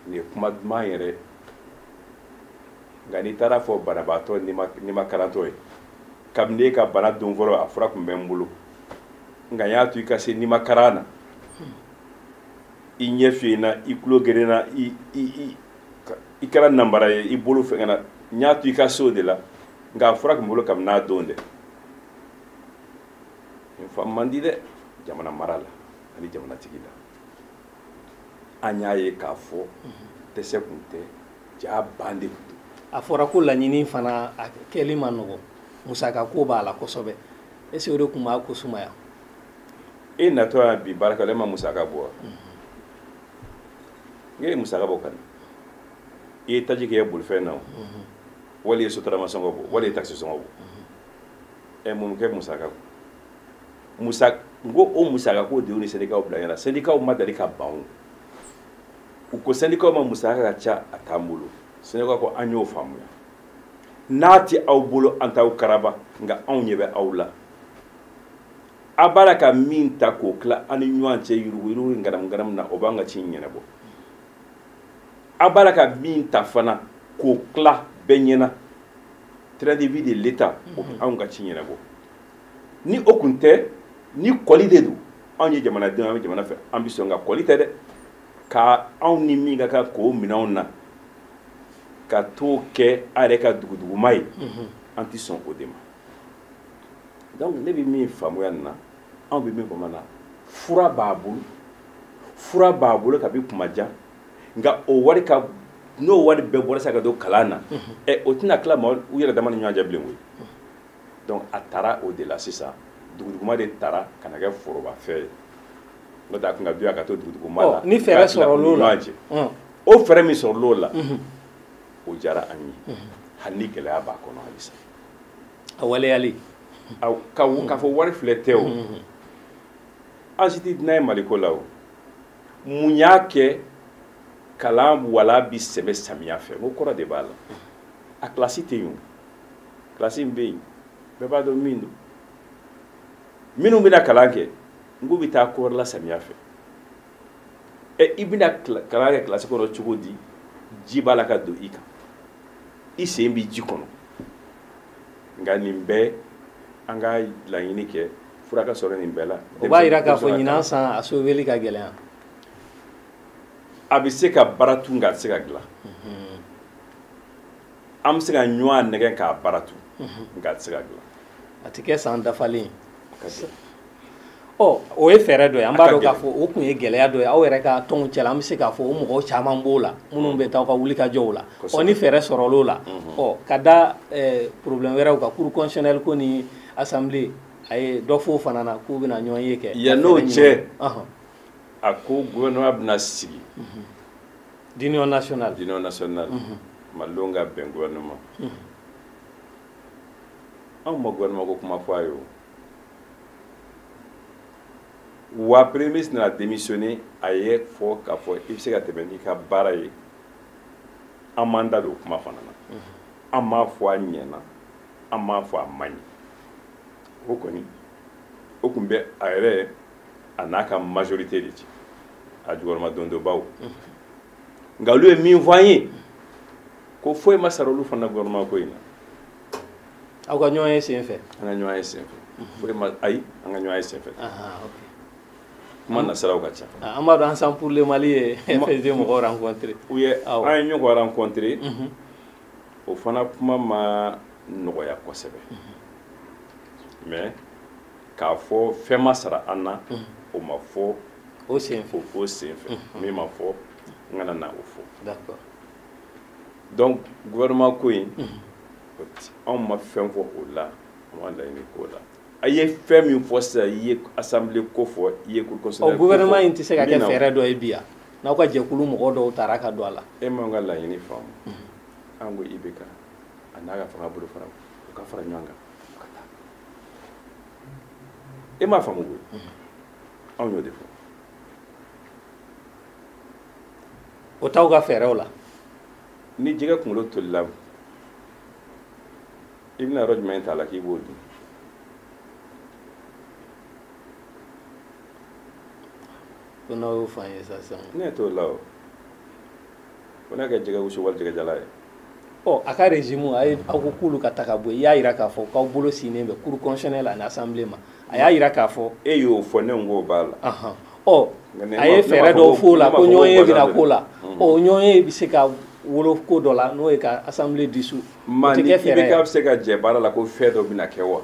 nin ye kuma duman yɛrɛ nka n'i taara a fɔ banabaatɔ nimakarantɔ ye kabini e ka bana don fɔlɔ a fura tun bɛ n bolo nka n y'a to i ka se nimakaran na i ɲɛ fiyenna i tulo gerenna i kɛra nanbara ye i bolo fɛngɛna n y'a to i ka se o de la nka a fura tun bɛ n bolo kabini a don dɛ nin faamu man di dɛ jamana marala ani jamanatigi la an y'a ye k'a fɔ dɛsɛ tun tɛ jaa ban de tun don a fɔra ko laɲini fana a kɛli man nɔgɔn musaka ko b'a la kosɛbɛ est-ce que o de tun b'a ko sumaya e natɔ yan bi baarakɛla e ma musaka bɔ wa e ye musaka bɔ ka na i ye taji kɛ i ka bolifɛn na o wali i ye sotarama sɔngɔ bɔ wali i ye takisi sɔngɔ bɔ ɛ mun kɛ musaka kɔ musa n ko o musaka ko de y'u ni sɛndikaw bila ɲɔgɔn na sɛndikaw ma dali ka ban o u ko sɛndikaw ma musaka ka ca a t'an bolo sɛndikaw ko an y'o faamuya n'a tɛ aw bolo an t'aw karaba nka anw ɲɛ bɛ aw la a b'a la ka min ta k'o tila a ni ɲɔgɔn cɛ yuruguyurugu ŋanamuŋanamu na o b'an ka ci ɲɛnabɔ a b'a la ka min ta fana k'o tila bɛɛ ɲɛna train de vie de l'État o bɛ anw ka ci ɲɛnabɔ ni o kun tɛ ni kɔli de don anw ye jamanadenw an bɛ jamana fɛ an bɛ sɔn ka kɔli tɛ dɛ nka anw ni min ka kan k'o minɛ anw na ka t'o kɛ a yɛrɛ ka duguduguma ye mhm. an tɛ sɔn o de ma donc ne bɛ min faamuya nin na anw bɛ min bamanan na fura b'a bolo fura b'a bolo kabi kuma jan nka o wari ka n'o wari bɛɛ bɔra sisan ka don kalan na mhm. ɛ o tɛna tila mɔgɔw yɛrɛ dama ni ɲɔgɔn cɛ bilen koyi mhm. donc a taara o de la sisan duguduguma de taara ka na kɛ forobafɛn ye n'o tɛ a tun ka di a ye ka to duguduguma la ni fɛɛrɛ sɔrɔl'o la o fɛɛrɛ min sɔrɔl'o la o diyara an ye hali ni gɛlɛya b'a kɔnɔ halisa a waleyali k'a fɔ wari filɛ tɛ o an si tɛ dunan ye maliko la o mun y'a kɛ kalan wala bɛ sɛmɛ samiya fɛ ko kɔrɔ de b'a la a kilasi tɛ yen o kilasi min bɛ yen bɛɛ b'a dɔn min don minnu bɛna kalan kɛ n k'u bɛ taa ko wɛrɛ la samiya fɛ ɛ i bɛna kalan kɛ kilasi kɔnɔ cogo di ji b'a la ka don i kan i sen bɛ ji kɔnɔ nka nin bɛɛ an ka laɲini kɛ fura ka sɔrɔ nin bɛɛ la o b'a jira k'a fɔ ɲinan san a soveli ka gɛlɛn a bɛ se ka baara tun nka a tɛ se ka dilan mhm. an bɛ se ka ɲɔgɔn nɛgɛn k'a baara tun mhm. nka a tɛ se ka dilan a tɛ kɛ san dafalen ɔ o ye fɛɛrɛ dɔ ye an b'a dɔn k'a fɔ o tun ye gɛlɛya dɔ ye aw yɛrɛ ka tɔnw cɛla an bɛ se k'a fɔ o mɔgɔw caman b'o la minnu bɛ taa aw ka wulikajɔw la ɔ ni fɛɛrɛ sɔrɔl'o la ɔ ka da problème wɛrɛw kan cour constitutionnelle ko ni assemblée a ye dɔ f'o fana na k'u bɛna ɲɔgɔn ye kɛ yann'o cɛ a ko gouvernement bɛna sigi d'union nationale d'union nationale malidenw ka bɛn gouvernement anw ma gouvernement ko kuma fɔ a ye o wa premier ministre nana démissionner a y'a fɔ k'a fɔ i bɛ se ka tɛmɛ n'i ka baara ye an m'an da don o kuma fana na an m'a fɔ a ɲɛna an m'a fɔ a man ɲi o kɔni o tun bɛ a yɛrɛ a n'a ka majorité de cɛ a jukɔrɔma dondonbaw nka olu ye min fɔ an ye ko foyi ma sara olu fana na gouvernement ko in na aw ka ɲɔgɔn ye sen fɛ an ka ɲɔgɔn ye sen fɛ foyi ma ayi an ka ɲɔgɔn ye sen fɛ kuma nasiraw ka ca an b'a dɔn ensemble pour le mali ye FSD mɔgɔw rencontré u ye an ye ɲɔgɔn rencontré o fana kuma ma nɔgɔya kosɛbɛ mais k'a fɔ fɛn ma sara an na o ma fɔ o sen fɛ min ma fɔ n kana na o fɔ d'accord donc gouvernement ko in anw ma fɛn fɔ o la an ma laɲini k'o la a ye fɛn min fɔ sisan i ye assemblée ko fɔ i ye cour constitutionnelle ko fɔ gouvernement in tɛ se ka kɛ fɛɛrɛ dɔ ye bi yan n'aw ka jɛkulu mɔgɔ dɔw taara ka don a la e m'an ka laɲini faamu an ko IBK a n'a ka fanga bolo fara u ka fara ɲɔgɔn kan ka taa e m'a faamu koyi anw y'o de fɔ o t'aw ka fɛɛrɛw la ni jɛgɛ kunkolo tolila i bɛna yɔrɔ jumɛn t'a la k'i b'o dun ko n'aw y'o fɔ an ye sa sisan ne t'o la o ko n'a kɛ jɛgɛ wusu wali jɛgɛ jalan ye ɔ a ka régime a ye aw ko k'olu ka taa ka bɔ yen i y'a jira k'a fɔ k'aw bolo sinnen bɛ cour constitutionnelle ani assemblée ma a y'a jira k'a fɔ e y'o fɔ ne ko b'a la ɔ a ye fɛɛrɛ dɔw f'o la ko ɲɔgɔn ye bɛna k'o la ɔ ɲɔgɔn ye bɛ se ka wolo ko dɔ la n'o ye ka assemblée dissous o tɛ kɛ fɛɛrɛ ye i bɛ se ka jɛ baara la ko fɛn dɔ bɛna kɛ wa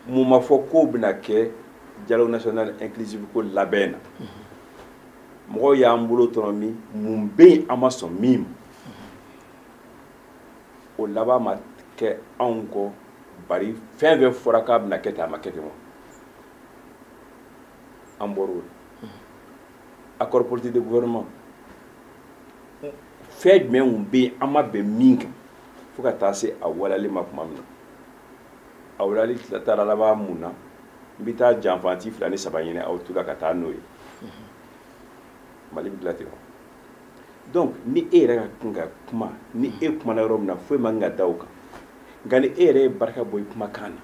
mun ma fɔ k'o bɛna kɛ dialogue national inclusif ko labɛn na mɔgɔw y'an bolo tɔnɔmi mun bɛ yen an ma sɔn min ma o laban ma kɛ anw kɔ bari fɛn fɛn fɔra k'a bɛna kɛ ten a ma kɛ ten wa an bɔra o la accord politique de gouvernement fɛn jumɛn tun bɛ yen an ma bɛn min kan fo ka taa se a waleyali ma tuma min na a waleyali taara laban mun na n bɛ taa janfanti fila ni saba ɲini aw tu la ka taa n'o ye mali bɛ dilan ten wa donc ni e yɛrɛ ka kan ka kuma ni e kumana yɔrɔ min na foyi man kan ka da o kan nka ni e yɛrɛ ye barika bɔ i kumakan na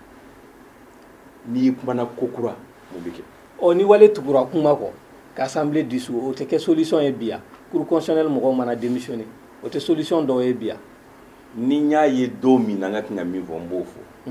n'i kumana ko kura mun bɛ kɛ ɔ ni wale tugura kuma kɔ ka assemblée dissous o tɛ kɛ solution ye bi ya cour constitutionnelle mɔgɔw mana démissionné o tɛ solution dɔw ye bi ya ni n y'a ye don min na n ka kan ka min fɔ n b'o fɔ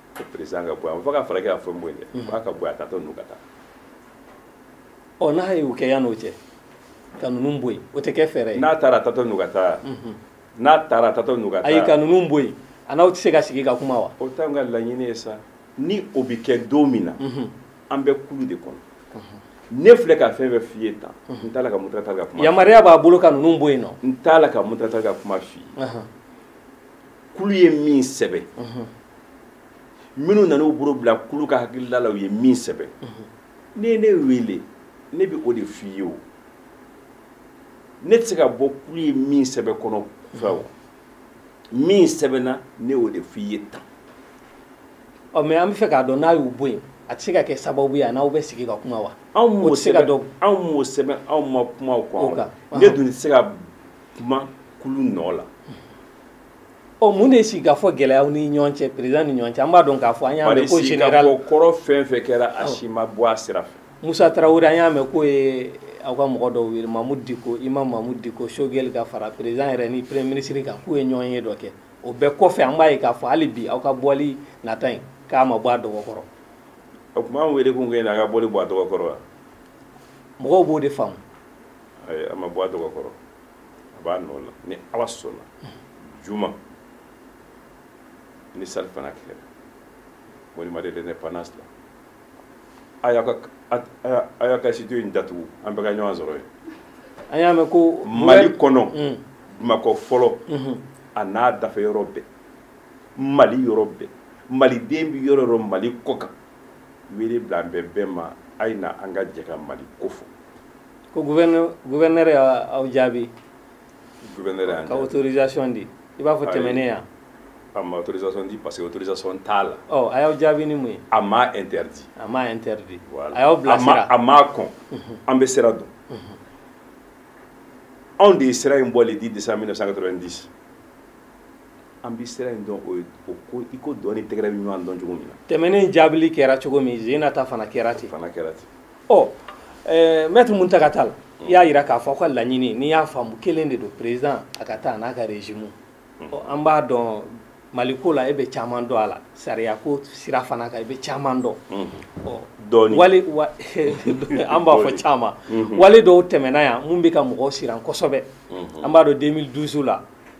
ko peresidan ka bɔ yen a ma fɔ ka falake y'a fɔ n bɔ yen dɛ f'a ka bɔ yen a taatɔ ninnu ka taa ɔ n'a ye o kɛ yan'o cɛ ka ninnu bɔ yen o tɛ kɛ fɛɛrɛ ye n'a taara a taatɔ ninnu ka taa n'a taara a taatɔ ninnu ka taa ayi ka ninnu bɔ yen a n'aw tɛ se ka sigi ka kuma wa o t'anw ka laɲini ye sa ni o bɛ kɛ don min na an bɛ kulu de kɔnɔ ne filɛ ka fɛn fɛn f'i ye tan n t'a la ka muntaga tali ka kuma yamaruya b'a bolo ka ninnu bɔ yen nɔ n t'a la ka muntaga tali ka kuma f'i ye kulu ye min sɛbɛn minnu nan'u bolo bila kulu ka hakilila la u ye min sɛbɛn n'i ye ne wele ne bɛ o de f'i ye o ne tɛ se ka bɔ kulu ye min sɛbɛn kɔnɔ fɛ o min sɛbɛnna ne y'o de f'i ye tan ɔ mɛ an bɛ fɛ k'a dɔn n'a y'u bɔ yen a tɛ se ka kɛ sababu ye a n'aw bɛ sigi ka kuma wa anw m'o sɛbɛn anw m'o sɛbɛn anw ma kuma o kan ne dun tɛ se ka kuma kulu nɔ la ɔ mun de ye sigikafɔ gɛlɛya aw ni ɲɔgɔn cɛ peresidan ni ɲɔgɔn cɛ an b'a dɔn k'a fɔ an y'a mɛn ko general sigikafɔ kɔrɔ fɛn fɛn kɛra a si ma bɔ a sira fɛ musa tarawele an y'a mɛn k'o ye aw ka mɔgɔ dɔw wele mamudu diko imamu mamudu diko sogɛli ka fara peresidan yɛrɛ ni premier ministre kan k'u ye ɲɔgɔnye dɔ kɛ o bɛɛ kɔfɛ an b'a ye k'a fɔ hali bi aw ka bɔli nata in k'a ma bɔ a dɔgɔ kɔrɔ o tuma an wele kun kɛ a ka bɔli bɔ a dɔgɔ kɔrɔ wa mɔgɔw b'o de faamu ayi a ma bɔ a dɔgɔ kɔrɔ a b'a nɔ la ni ala sɔnna juma ni salifana kɛra monument de l'indépendance la a y'a ka a y'a ka studio in datugu an bɛɛ ka ɲɔgɔn sɔrɔ yen an y'a mɛn ko mali kɔnɔ mm. bamakɔ fɔlɔ mm-hmm. a n'a dafɛ yɔrɔ bɛɛ mali yɔrɔ bɛɛ maliden bɛ yɔrɔ yɔrɔ mali kɔkan wele bilalen bɛ bɛɛ ma a ye na an ka jɛ ka mali ko fɔ ko guvɛnɛrɛ y'aw jaabi guvɛnɛrɛ y'an jaabi ka autorisation di i b'a fɔ tɛmɛnen yan a ma autorisation di parce que autorisation t'a la ɔ a y'aw jaabi ni mun ye a m'a interdit a m'a interdit voilà. a y'aw bilasira a m'a kɔn mhm. an bɛ sira dɔn mhm. anw de ye sira in bɔ le 10 décembre 1990 an bi sira in dɔn o ko i ko dɔn ni tɛgɛrɛ bɛ ɲɔgɔn dɔn cogo min na tɛmɛnen jaabili kɛra cogo min zena ta fana kɛra ten fana kɛra ten ɔ eh, mɛtiri muntaga tali i y'a yira k'a fɔ aw ka laɲini n'i y'a faamu kelen de don peresidan a ka taa n'a ka rezimu mm. ɔ an b'a dɔn maliko la e bɛ caman dɔn a la sariyako sira fana kan i bɛ caman dɔn mm-hmm. ɔ dɔɔni wale wa an b'a fɔ caman mm-hmm. wale dɔw tɛmɛna yan mun bɛ ka mɔgɔw siran kosɛbɛ mm-hmm. an b'a dɔn 2012 la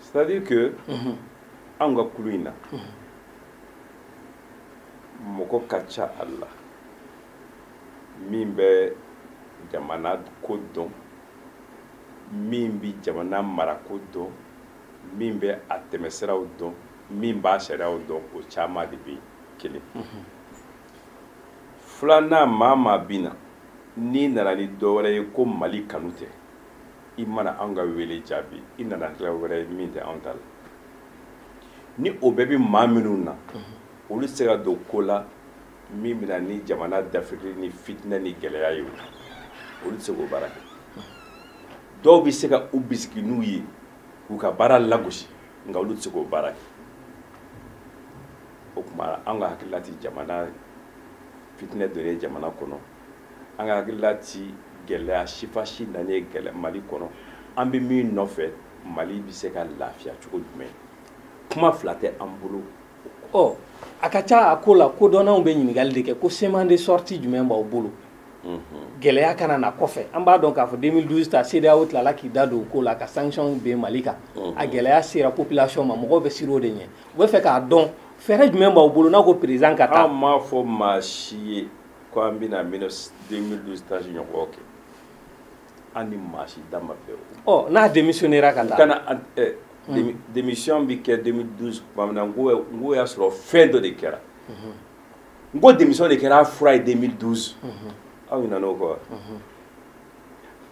c'est à dire que mhm. anw ka kulu in na mɔgɔ ka ca a la min bɛ jamana ko dɔn min bɛ jamana marako dɔn min bɛ a tɛmɛsiraw dɔn min b'a sariyaw dɔn o caman de bɛ kelen mhm. filanan maa maa bɛ na n'i nana ni dɔ wɛrɛ ye ko mali kanu tɛ i mana anw ka wele jaabi i nana hakilila wɛrɛ ye min tɛ anw ta la ni o bɛɛ bɛ maa minnu na olu tɛ se ka don ko la min bɛna ni jamana dafiri ni fitinɛ ni gɛlɛya ye olu tɛ se k'o baara kɛ dɔw bɛ se ka u bisigi n'u ye k'u ka baara lagosi nka olu tɛ se k'o baara kɛ o tuma an ka hakilila tɛ jamana fitinɛ donni ye jamana kɔnɔ an ka hakilila tɛ gɛlɛya sifa si nani ye gɛlɛ mali kɔnɔ an bɛ min nɔfɛ mali bɛ se ka lafiya cogo jumɛn kuma fila tɛ an bolo ɔ a ka ca a ko la kodɔnnaw bɛ ɲininkali de kɛ ko schéma de sortie jumɛn b'aw bolo gɛlɛya kana na kɔfɛ an b'a dɔn k'a fɔ 2012 ta CEDEAO tilala k'i da don o ko la ka sanctions bin Mali kan a gɛlɛya sera population ma mɔgɔw bɛ siran o de ɲɛ u bɛ fɛ k'a dɔn fɛɛrɛ jumɛn b'aw bolo n'a ko président ka taa an m'a fɔ maa si ye ko an bɛna 2012 ta ɲɔgɔn kɛ an ni maa si da ma bɛn o ɔ n'a démissionnera ka taa kana eh, hmm. démission bɛ kɛ 2012 tuma min na n ko y'a sɔrɔ fɛn dɔ de kɛra hmm. n ko démission de kɛra a fura ye 2012 hmm. aw ɲinana o kɔ wa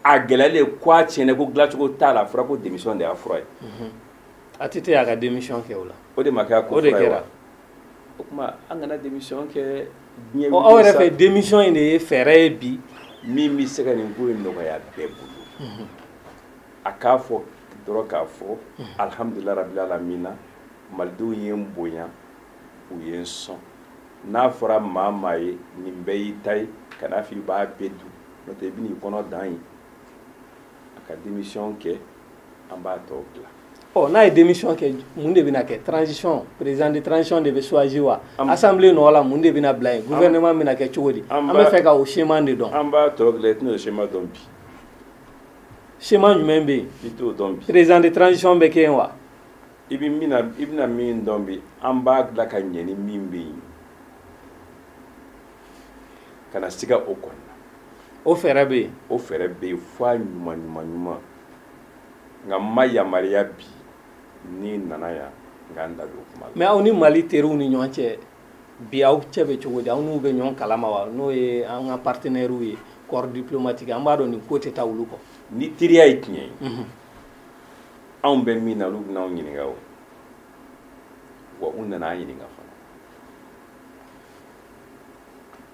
a gɛlɛyalen ko a tiɲɛna ko dilancogo t'a la a fɔra ko démission de y'a fura ye ATT y'a ka démission kɛ o la o de ma kɛ a ko fura ye wa o tuma an kana démission kɛ diɲɛ aw yɛrɛ fɛ démission in de ye fɛɛrɛ ye bi min bɛ se ka nin ko in nɔgɔya bɛɛ bolo mhm. a k'a fɔ dɔrɔn k'a fɔ mhm. alihamudulilayi rabili alamina malidenw ye n bonya u ye n sɔn n'a fɔra maa maa ye nin bɛɛ y'i ta ye kan'a fɔ i b'a bɛɛ dun n'o tɛ i bɛn'i kɔnɔ dan ye a ka démission kɛ an b'a tɔ dilan ɔ n'a ye démission kɛ mun de bɛna kɛ transition président de transition de bɛ choisi wa assemblée nɔ la mun de bɛna bila yen gouvernement bɛna kɛ cogo di an bɛ fɛ ka o schéma de dɔn an b'a tɔ dilan i tɛna o schéma dɔn bi schéma jumɛn bɛ yen i t'o dɔn bi président de transition bɛ kɛ yen wa i bɛ min na i bɛna min dɔn bi an b'a dilan ka ɲɛ ni min bɛ yen kana siga o kɔnɔna o fɛɛrɛ bɛ yen o fɛɛrɛ bɛ yen f'a ɲuman ɲuman ɲuman nka n ma yamaruya bi n'i nana yan n ka n da don kuma la. mais aw ni mali teriw ni ɲɔgɔn cɛ bi aw cɛ bɛ cogo di aw n'u bɛ ɲɔgɔn kalama wa n'o ye an ka partenɛriw ye corps diplomatique an b'a dɔn nin ko tɛ taa olu kɔ. ni teriya ye tiɲɛ ye. Mhm. anw bɛ min na olu bɛna anw ɲininka o wa u nana an ɲininka fana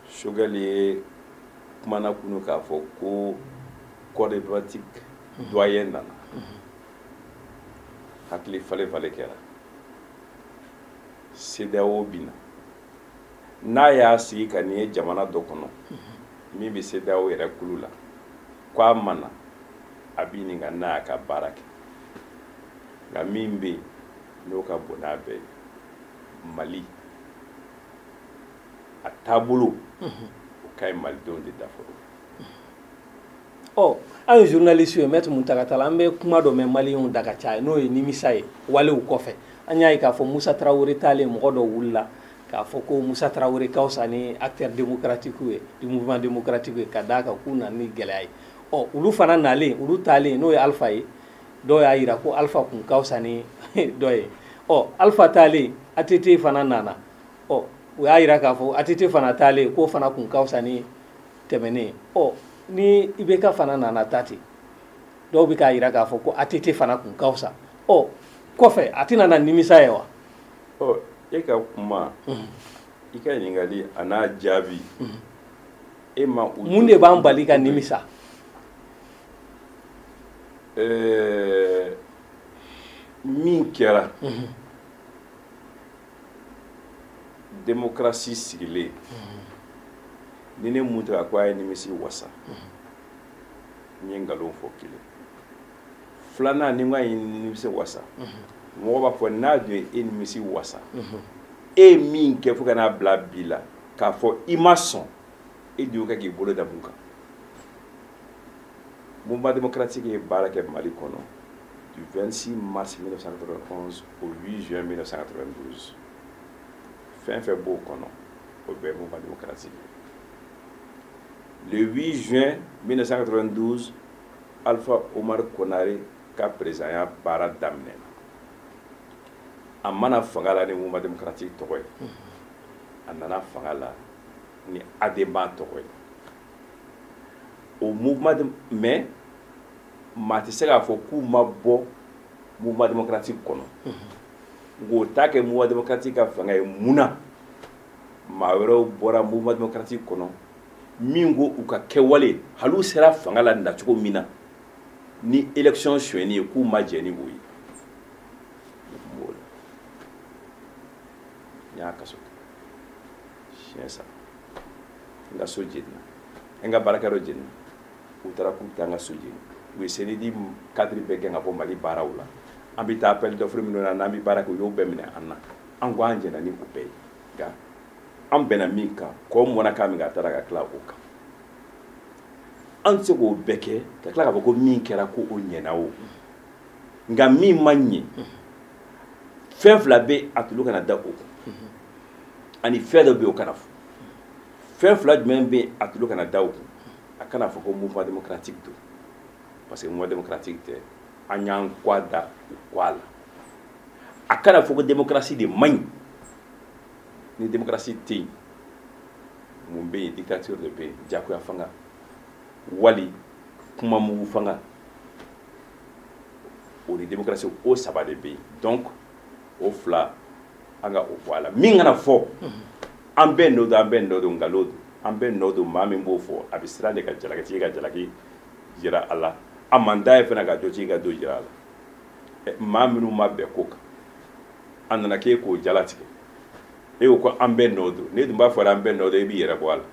Choguel ye kumana kunu k'a fɔ ko. corps diplomatique doyen nana hakili falen falen kɛra CEDEAO bɛ na n'a y'a sigi ka nin ye jamana dɔ kɔnɔ min bɛ CEDEAO yɛrɛ kulu la ko a mana a b'i ɲininka n'a y'a ka baara kɛ nka min bɛ yen n'o ka bon n'a bɛɛ ye mali a taabolo o ka ɲi malidenw de da fɔlɔ ɔ an ye journaliste ye maître Muntaka Tall an bɛ kuma dɔ mɛn maliyɛnw da ka caya n'o ye nimisa ye walew kɔfɛ an y'a ye k'a fɔ Musa Tarawele taalen mɔgɔ dɔ wulila k'a fɔ ko Musa Tarawele ka fisa ni acteur démocratique ye du mouvement démocratique ye ka d'a kan k'u nana ni gɛlɛya ye ɔ olu fana nalen olu taalen n'o ye Alpha ye dɔw y'a jira ko Alpha kun ka fisa ni dɔ ye ɔ Alpha taalen ATT fana nana ɔ u y'a jira k'a fɔ ATT fana taalen k'o fana kun ka fisa ni tɛmɛnen ɔ ni IBK fana nana taa ten dɔw bɛ k'a jira k'a fɔ ko ATT fana kun ka fisa ɔ kɔfɛ a tɛna na nimisa ye wa. ɔ e ka kuma. Mhm. i ka ɲininkali a n'a jaabi. Mhm. e ma u. mun de b'an bali ka nimisa. ɛɛ min kɛra. Mhm. demokarasi sigilen ni ne Muntaka ko a ye nimisi wasa n ye nkalon fɔ kelen filanan ni n ko a ye nimisi wasa mɔgɔ b'a fɔ n'a dun ye e nimisi wasa e ye min kɛ fo ka n'a bila bi la k'a fɔ i ma sɔn e dun ka k'i bolo da mun kan mouvement démocratique ye baara kɛ mali kɔnɔ du 26 mars 1991 au 8 juin 1992 fɛn fɛn b'o kɔnɔ o bɛɛ ye mouvement démocratique le 8 juin 1992 alpha omar konare ka perezidanya baara daminɛna a ma na fanga la ni mouvement démocratique tɔgɔ ye a nana fanga la ni ADEMA tɔgɔ ye o mouvement de mais maa tɛ se k'a fɔ k'u ma bɔ mouvement démocratique kɔnɔ nka o t'a kɛ mouvement démocratique ka fanga ye mun na maa wɛrɛw bɔra mouvement démocratique kɔnɔ min ko u ka kɛwale hali u sera fanga la nacogo min na ni élection sonyɛni ye k'u ma jɛ ni o ye n y'a kaso siɲɛ saba n ka so jenina n ka baarakɛyɔrɔ jenina u taara k'u taa n ka so jeni u ye CNID cadre bɛɛ gɛn ka bɔ mali baaraw la an bɛ taa appel d'offre minnu na n'an bɛ baara kɛ u y'o bɛɛ minɛ an na an ko an jɛna ni o bɛɛ ye nka an bɛnna min kan kɔ mɔna k'a min ka taara ka tila o kan an tɛ se k'o bɛɛ kɛ ka tila k'a fɔ ko min kɛra ko o ɲɛna o nka min ma ɲɛ fɛn fila bɛ a tulu kana da o kun ani fɛn dɔ bɛ yen o kana fɔ fɛn fila jumɛn bɛ yen a tulo kana da o kun a kana fɔ ko mouvement démocratique don parce que mouvement démocratique tɛ an y'an kɔ a da u kɔ a la a kana fɔ ko démocratie de man ɲi ni démocratie tɛ yen mun bɛ yen dictature de bɛ yen jagoya fanga wali kuma mugu fanga o ni démocratie o saba de bɛ yen donc o fila an ka o bɔ a la min kana fɔ an bɛɛ nɔ don an bɛɛ nɔ don nkalon don an bɛɛ nɔ don maa min b'o fɔ a bɛ siran de ka jalakitigi ka jalaki jira a la a man d'a ye fana ka jotigi ka jo jira a la maa minnu ma bɛn ko kan a nana k'e k'o jalatigɛ e ko ko an bɛɛ nɔ don ne dun b'a fɔ an bɛɛ nɔ don e b'i yɛrɛ bɔ a la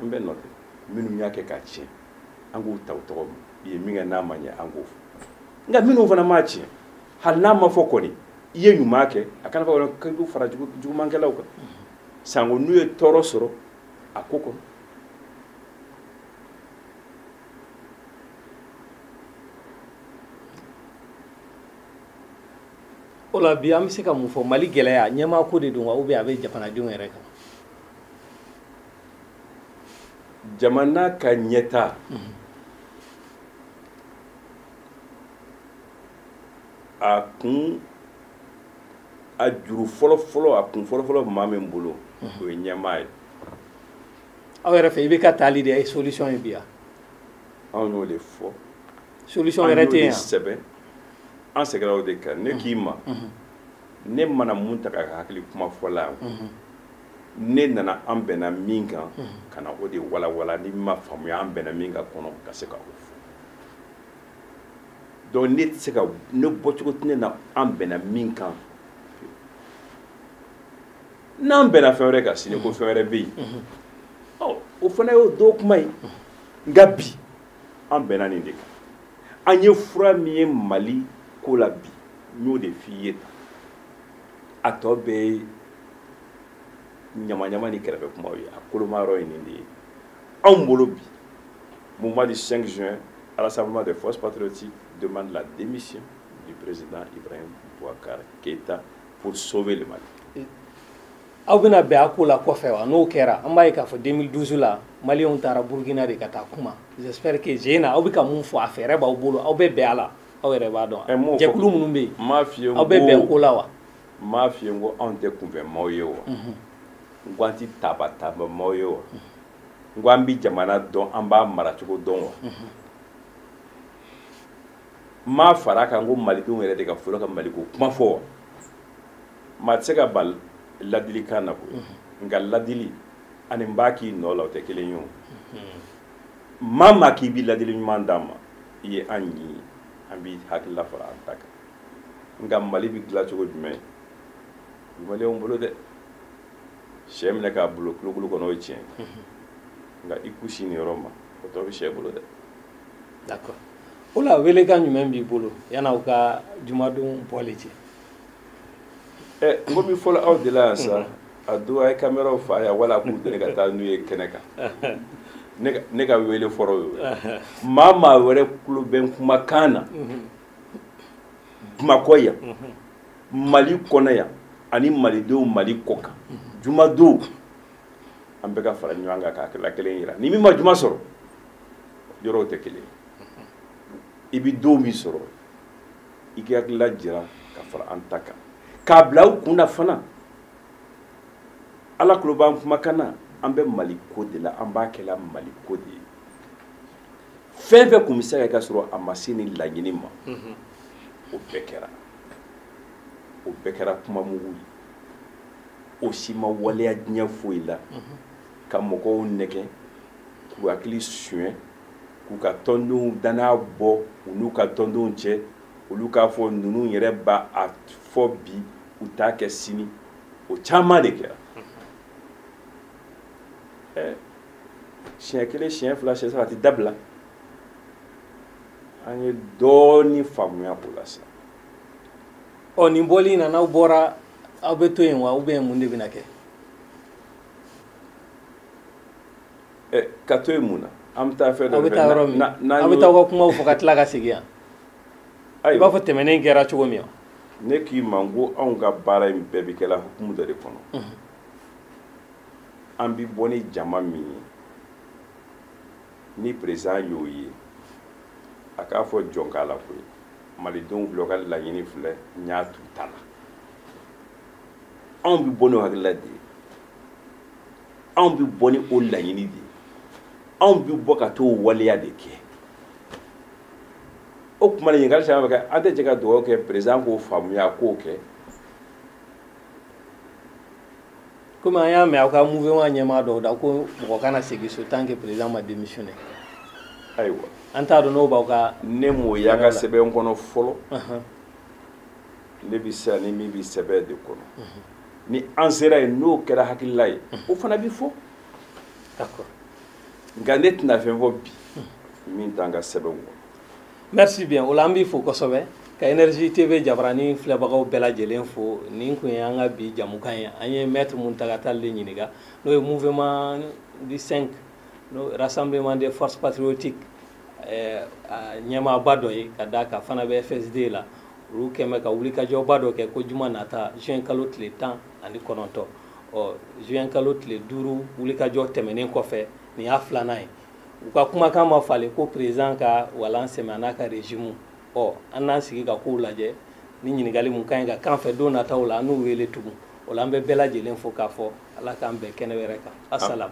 an bɛɛ nɔ tɛ minnu y'a kɛ k'a tiɲɛ an k'u ta u tɔgɔ ma i ye min kɛ n'a ma ɲɛ an k'o fɔ nka minnu fana m'a tiɲɛ hali n'a ma fɔ kɔni i ye ɲuman kɛ a kana fɔ k'i b'u fara jugumankɛlaw kan sanko n'u ye tɔɔrɔ sɔrɔ a ko kɔnɔ o la bi an bɛ se ka mun fɔ mali gɛlɛya ɲɛmaako de don wa ou bien a bɛ jamanadenw yɛrɛ kan jamana ka ɲɛtaa a kun a juru fɔlɔfɔlɔ a kun fɔlɔfɔlɔ maa min bolo o ye ɲɛmaa ye aw yɛrɛ fɛ IBK taali de ye solution ye bi yan anw y'o de fɔ solution wɛrɛ tɛ yen yan sɛbɛn an sɛgɛnna o de kan ne k'i ma ne ma na mountaga ka hakili kuma fɔla yan ne nana an bɛnna min kan ka na o de walawala ni min m'a faamuya an bɛnna min kan kɔnɔ ka se ka o fɔ donc ne tɛ se ka ne bɔcogo tɛ ne na an bɛnna min kan n'an bɛnna fɛn wɛrɛ kan sini ko fɛn wɛrɛ bɛ yen ɔ o fana y'o don kuma ye nka bi an bɛnna nin de kan an ye fura min ye mali ko la bi n y'o de f'i ye tan a tɔ bɛɛ ye ɲamaɲama ni kɛrɛfɛ kumaw ye a koloma yɔrɔ ye nin de ye anw bolo bi mouvement du 5 juin à rassemblement des forces patriotiques demande la démission du président Ibrahim Boubacar Keïta pour sauver le Mali. aw bɛna bɛn a ko la kɔfɛ wa n'o kɛra an b'a ye k'a fɔ 2012 la maliyɛnw taara burukina de ka taa kuma j'espère que je na aw bɛ ka mun fɔ a fɛɛrɛ b'aw bolo aw bɛ bɛn a la aw yɛrɛ b'a dɔn jɛkulu minnu bɛ yen aw bɛ bɛn ko la wa n m'a f'i ye n ko anw tɛ kunfɛ maaw ye wa n ko an tɛ taaba taaba maaw ye wa n ko an bɛ jamana dɔn an b'a maracogo dɔn wa n m'a fara a kan ko malidenw yɛrɛ de ka fɔlɔ ka maliko kuma fɔ wa maa tɛ se ka ban ladilikan na koyi nka ladili ani n b'a k'i nɔ la o tɛ kelen ye o maa maa k'i bɛ ladili ɲuman d'an ma i ye an ɲi an b'i hakilila fara an ta kan nka mali bɛ dilan cogo jumɛn bi maliyɛnw bolo dɛ sɛ minɛ k'a bila kulukulu kɔnɔ o ye tiɲɛ nka i kun sin nin yɔrɔ ma o tɔ bɛ sɛ bolo dɛ d'accord o la welekan jumɛn b'i bolo yan'aw ka jumadon bɔli cɛ ɛ eh, n ko min fɔlɔ aw de la yan sa a don a ye kameraw fa yan wala a k'u deli ka taa n'u ye kɛnɛ kan ne ka wele fɔlɔ y'o ye maa maa wɛrɛ kulo bɛ n kumakan na mhm. bamakɔ yan mali kɔnɔ yan ani malidenw mali kɔkan jumadon an bɛka fara ɲɔgɔn kan ka hakilila kelen yira ni min ma juma sɔrɔ yɔrɔw tɛ kelen i bɛ don min sɔrɔ i k'i hakilila jira ka fara an ta kan k'a bila u kun na fana ala kulo b'an kumakan na an bɛ mali ko de la an b'a kɛla mali ko de ye fɛn fɛn tun bɛ se ka kɛ sɔrɔ a ma se nin laɲini ma o bɛɛ kɛra o bɛɛ kɛra kuma mugu ye o si ma waleya diɲɛ foyi la ka mɔgɔw nɛgɛ k'u hakili suɲɛ k'u ka tɔndenw danaya bɔ u n'u ka tɔndenw cɛ olu k'a fɔ ninnu yɛrɛ b'a fɔ bi u t'a kɛ sini o caman de kɛra ɛɛ siɲɛ kelen siɲɛ fila siɲɛ saba a tɛ dabila an ye dɔɔnin faamuya o la sa ɔ nin bɔli in na n'aw bɔra aw bɛ to yen wa ou bien mun de bɛna kɛ ɛ eh, ka to yen mun na an bɛ taa fɛn dɔ aw bɛ taa yɔrɔ min aw bɛ taa aw ka kumaw fɔ ka tila ka segin yan i b'a fɔ tɛmɛnen kɛra cogo min ne k'i ma n ko anw ka baara in bɛɛ bɛ kɛla hukumu dɔ de kɔnɔ an bi bɔ ni jama min ye ni président y'o ye a k'a fɔ jɔn k'a la koyi malidenw filɛ u ka laɲini filɛ n y'a t'u ta la anw bi bɔ n'o hakilila de ye anw bi bɔ ni o laɲini de ye anw bi bɔ ka t'o waleya de kɛ o kuma de ɲininkali caman bɛ kɛ an tɛ jɛ ka dugawu kɛ président k'o faamuya k'o kɛ komi an y'a mɛn aw ka mouvement ɲɛmaa dɔw da ko mɔgɔ kana segin so tant que président ma démissionner ayiwa an t'a dɔn n'o b'aw ka ne m'o y'an ka sɛbɛn kɔnɔ fɔlɔ ne bɛ se ani min bɛ sɛbɛn de kɔnɔ ni an sera yen n'o kɛra hakilila ye o fana bɛ fɔ nka ne tɛna fɛn fɔ bi min t'an ka sɛbɛnw kɔnɔ merci bien o la an b'i fo kosɛbɛ ka énergie tv jabarani filɛbagaw bɛɛ lajɛlen fo nin kun ye an ka bi jamukan ye an ye maître mountaga tall de ɲininka n'o ye mouvement du 5 n'o rassemblement des forces patriotiques eh, a ɲɛmaaba dɔ ye ka d'a kan fana bɛ fsd la olu kɛ bɛ ka wulikajɔba dɔ kɛ ko juma nata juin kalo tile tan ani kɔnɔntɔn ɔ juin kalo tile duuru wulikajɔ tɛmɛnen kɔfɛ nin y'a filanan ye u ka kumakan ma falen ko président ka walan sɛmɛ a n'a ka régime ɔ an n'an sigi ka kow lajɛ ni ɲininkali mun ka ɲi ka k'an fɛ don nataw la an n'u wele tugun o la an bɛ bɛɛ lajɛlen fo k'a fɔ ala k'an bɛn kɛnɛ wɛrɛ kan assalam